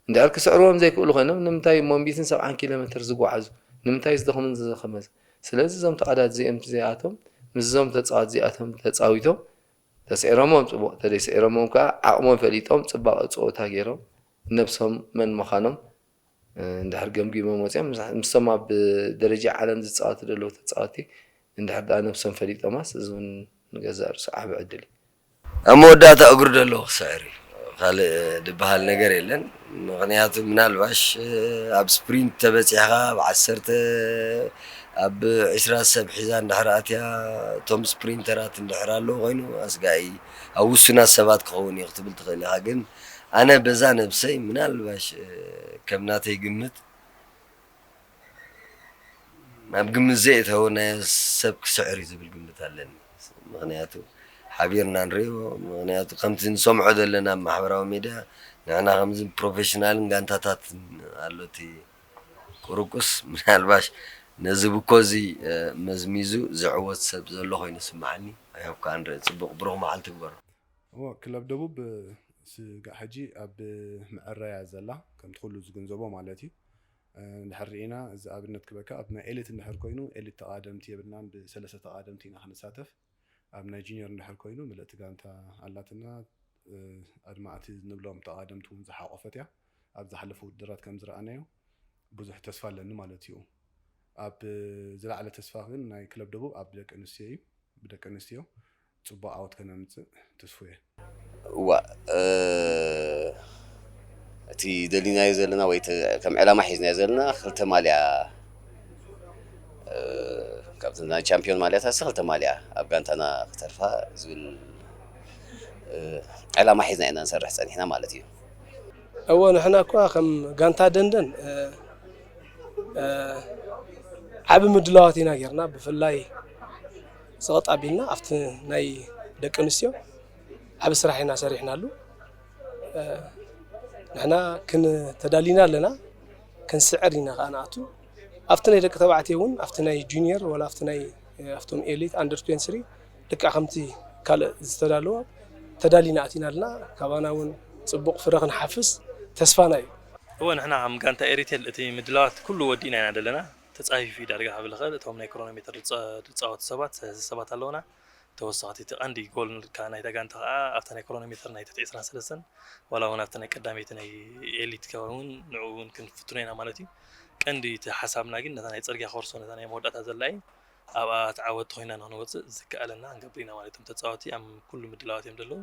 እንድሕር ክስዕርዎም ዘይክእሉ ኮይኖም ንምንታይ ሞንቢትን ሰብዓን ኪሎ ሜትር ዝጓዓዙ ንምንታይ ዝደኽምን ዝዘኸመዝ ስለዚ እዞም ተዓዳት እዚኦም ተዘይኣቶም ምስዞም ተጻዋት እዚኣቶም ተጻዊቶም ተስዒሮሞም ጽቡቅ ተደይስዒሮሞም ከኣ ዓቅሞም ፈሊጦም ጽባቀ ጸወታ ጌሮም ነብሶም መን ምኻኖም እንድሕር ገምጊሞም ወጺኦም ምስቶም ኣብ ደረጃ ዓለም ዝጻወቱ ደለዉ ተጻወቲ እንድሕር ድኣ ነብሶም ፈሊጦማስ እዚ ውን ንገዛእ ርእሱ ዓቢ ዕድል እዩ። ኣብ መወዳእታ
እግሩ ደሎ ክስዕር እዩ ካልእ ድበሃል ነገር የለን ምኽንያቱ ምናልባሽ ኣብ ስፕሪንት ተበጺሕኻ ኣብ ዓሰርተ ኣብ ዕስራ ሰብ ሒዛ እንድሕር ኣትያ እቶም ስፕሪንተራት እንድሕር ኣለዉ ኮይኑ ኣስጋኢ ኣብ ውሱናት ሰባት ክኸውን እዩ ክትብል ትኽእል ኢኻ ግን ኣነ በዛ ነብሰይ ምናልባሽ ከም ናተይ ግምት ናብ ግምት ዘየእተወ ናይ ሰብ ክስዕር እዩ ዝብል ግምት ኣለኒ ምክንያቱ ሓቢርና ንሪኦ ምክንያቱ ከምቲ ንሰምዖ ዘለና ኣብ ማሕበራዊ ሚድያ ንሕና ከምዚ ፕሮፌሽናልን ጋንታታትን ኣሎ እቲ ቁርቁስ ምናልባሽ ነዚ ብኮ እዚ መዝሚዙ ዝዕወት ሰብ ዘሎ ኮይኑ ስምዓኒ ኣይሆፕ ከዓ ንርኢ ፅቡቅ ብሩክ መዓል ትግበሮ እዎ ክለብ
ደቡብ ስጋዕ ሕጂ ኣብ ምዐረያ ዘላ ከምቲ ኩሉ ዝግንዘቦ ማለት እዩ። እንድሕር ርኢና እዚ ኣብነት ክበካ ኣብ ናይ ኤሊት እንድሕር ኮይኑ ኤሊት ተቃደምቲ የብልናን ብሰለስተ ተቃደምቲ ኢና ክንሳተፍ ኣብ ናይ ጁንየር እንድሕር ኮይኑ ምልእቲ ጋንታ ኣላትና ኣድማዕቲ ንብሎም ተቃደምቲ ውን ዝሓቆፈት እያ ኣብ ዝሓለፉ ውድድራት ከም ዝረኣናዮ ብዙሕ ተስፋ ኣለኒ ማለት እዩ ኣብ ዝለዓለ ተስፋ ግን ናይ ክለብ ደቡብ ኣብ ደቂ ኣንስትዮ እዩ ብደቂ ኣንስትዮ ፅቡቅ ዓወት ከነምፅእ ትስፉየ። እዋእ
እቲ ደሊናዮ ዘለና ወይ ከም ዕላማ ሒዝናዮ ዘለና ክልተ ማልያ ካብተን ናይ ቻምፒዮን ማልያታትሲ ክልተ ማልያ ኣብ ጋንታና ክተርፋ ዝብል ዕላማ ሒዝና ኢና ንሰርሕ ፀኒሕና ማለት እዩ። እወ
ንሕና እኳ ከም ጋንታ ደንደን ዓቢ ምድላዋት ኢና ጌርና ብፍላይ ጸቕጥ ኣቢልና ኣብቲ ናይ ደቂ ኣንስትዮ ዓቢ ስራሕ ኢና ሰሪሕናሉ። ንሕና ክን ተዳሊና ኣለና ክንስዕር ኢና ከኣ ንኣቱ ኣብቲ ናይ ደቂ ተባዕትዮ እውን ኣብቲ ናይ ጁኒየር ወላ ኣብቲ ናይ ኣብቶም ኤሊት ኣንደር 23 ልክዕ ከምቲ ካልእ ዝተዳለወ ተዳሊና ኣቲና ኣለና ካባና እውን ፅቡቕ ፍረ ክንሓፍስ ተስፋና እዩ እወ ንሕና ከም
ጋንታ ኤሪቴል እቲ ምድላዋት ኩሉ ወዲእና ኢና ዘለና ተጻፊፉ እዩ ዳርጋ ክብል ይኽእል እቶም ናይ ክሮኖሜተር ዝጻወቱ ሰባት ሰለስተ ሰባት ኣለውና ተወሰኽቲ እቲ ቀንዲ ጎል ከኣ ናይታ ጋንታ ከኣ ኣብታ ናይ ክሮኖሜተር ናይ ትሕቲ 23 ዋላ እውን ኣብቲ ናይ ቀዳመይቲ ናይ ኤሊት ከባቢ እውን ንዕኡ እውን ክንፍትኖ ኢና ማለት እዩ ቀንዲ እቲ ሓሳብና ግን ነታ ናይ ጽርግያ ኮርሶ ነታ ናይ መወዳእታ ዘላ እዩ ኣብኣ ተዓወቲ ኮይና ንክንወፅእ ዝከኣለና ክንገብር ኢና ማለት እዮም ተፃወቲ ኣብ ኩሉ ምድላዋት እዮም ዘለዉ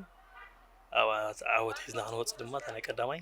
ኣብኣ ዓወት ሒዝና ክንወፅእ ድማ እታ ናይ ቀዳማይ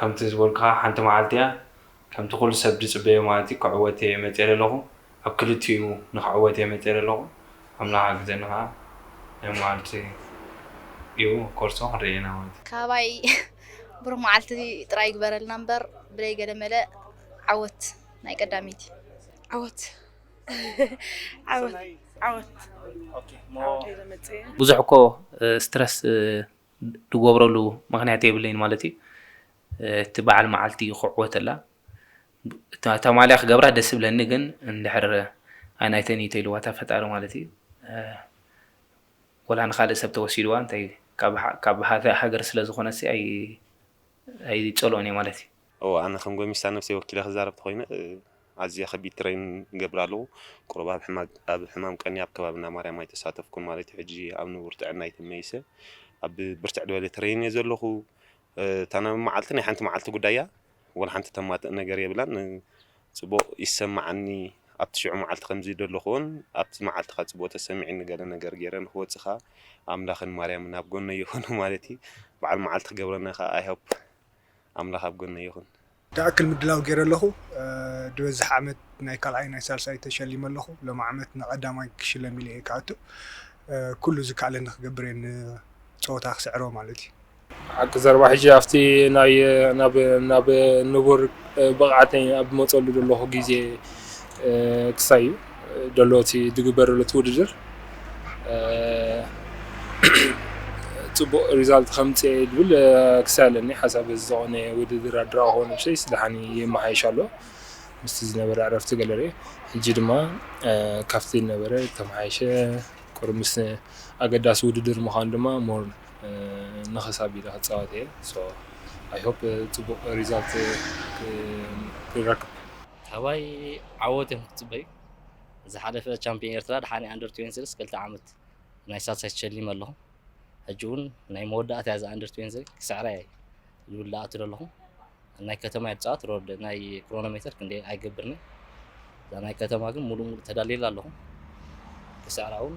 ከምቲ ዝበልኩኻ ሓንቲ መዓልቲ እያ ከምቲ ኩሉ ሰብ ዝጽበዮ ማለት እዩ ክዕወት እየ መጽየ ለለኹ ኣብ ክልቲኡ ንክዕወት እየ መጽየ ለለኹ ኣምላኽ ሓግዘኒ ከኣ ናይ መዓልቱ እዩ ኮርሶ ክንሪኢ ኢና ማለት እዩ። ካባይ
ብሩኽ መዓልቲ ጥራይ ይግበረልና እምበር ብለይ ገለ መለ ዓወት ናይ ቀዳመይቲ። ዓወት
ዓወት ዓወት ዓወት እየ
ዘመጽእ። ብዙሕ እኮ ስትረስ ድጎብረሉ ምክንያት የብለይን ማለት እዩ እቲ በዓል መዓልቲ እዩ ክዕወተላ እታ ማልያ ክገብራ ደስ ብለኒ ግን እንድሕር ኣይናይተን እዩ ተይልዋታ ፈጣሪ ማለት እዩ ወላ ንካልእ ሰብ ተወሲድዋ እንታይ ካብ ሃገር ስለ ዝኾነሲ ኣይፀልኦን እየ ማለት እዩ እወ ኣነ ከም ጎሚስታ ነብሰይ
ወኪለ ክዛረብ ተኮይነ ኣዝየ ከቢድ ትረይን ይገብር ኣለኩ ቁሩብ ኣብ ሕማግ ኣብ ሕማም ቀንየ ኣብ ከባቢ እንዳ ማርያም ኣይተሳተፍኩን ማለት እዩ ሕጂ ኣብ ንቡር ጥዕናይ ተመሊሰ ኣብ ብርትዕ ድበለ ትረይን እየ ዘለኩ እታ ናይ መዓልቲ ናይ ሓንቲ መዓልቲ ጉዳይ እያ ወላ ሓንቲ ተማትእ ነገር የብላን ጽቡቅ ይሰማዓኒ ኣብቲ ሽዑ መዓልቲ ከምዚ ደለኩዎን ኣብቲ መዓልቲ ከኣ ጽቡቅ ተሰሚዕኒ ገለ ነገር ገይረ ንክወጽእ ከኣ ኣምላክን ማርያምን ኣብ ጎነይ ይኩኑ ማለት እዩ በዓል መዓልቲ ክገብረና ከኣ ኣይ ሆፕ ኣምላኽ ኣብ ጎነይ ይኹን። ድኣክል ምድላው
ጌረ ኣለኹ ድበዝሕ ዓመት ናይ ካልኣይ ናይ ሳልሳይ ተሸሊመ ኣለኹ ሎሚ ዓመት ንቀዳማይ ክሽለም ኢለ ኢየ ክኣቱ ኩሉ ዝካኣለኒ ክገብር ኢየ ንጸወታ ክስዕሮ ማለት ኢዩ። ሓቂ ዘረባ
ሕጂ ኣብቲ ናይ ናብ ናብ ንቡር ብቕዓተይ ኣብ ዝመጸሉ ዘለኹ ግዜ ክሳይ እዩ። ደሎ እቲ ድግበር ደሎ እቲ ውድድር ፅቡቅ ሪዛልት ከምፅእ እየ ዝብል ክሳይ ኣለኒ ሓሳብ በዚ ዝኾነ ውድድር ኣድራቂ ክኾን ብሸይ ስደሓኒ ይመሓየሽ ኣሎ ምስቲ ዝነበረ ዕረፍቲ ገለረ ሕጂ ድማ ካብቲ ዝነበረ ተመሓየሸ ቁር ምስ ኣገዳሲ ውድድር ምዃን ድማ ሞር ንኽስ ኣቢለ ክፃወት እየ ኣይሆፕ ፅቡቅ ሪዛልት ክረክብ ካባይ
ዓወት እዮም ክትፅበዩ ዝሓለፈ ቻምፒዮን ኤርትራ ድሓኒ ኣንደር 23 ክልተ ዓመት ናይ ሳልሳይ ተሸሊመ ኣለኹ ሕጂ እውን ናይ መወዳእታ እያ ኣንደር 23 ክስዕራ እየ ዝብል ዳኣቱ ዘለኹ ናይ ከተማ እየ ዝፃወት ሮድ ናይ ክሮኖሜተር ክንደ ኣይገብርኒ እዛ ናይ ከተማ ግን ሙሉእ ሙሉእ ተዳልየላ ኣለኹ ክስዕራ እውን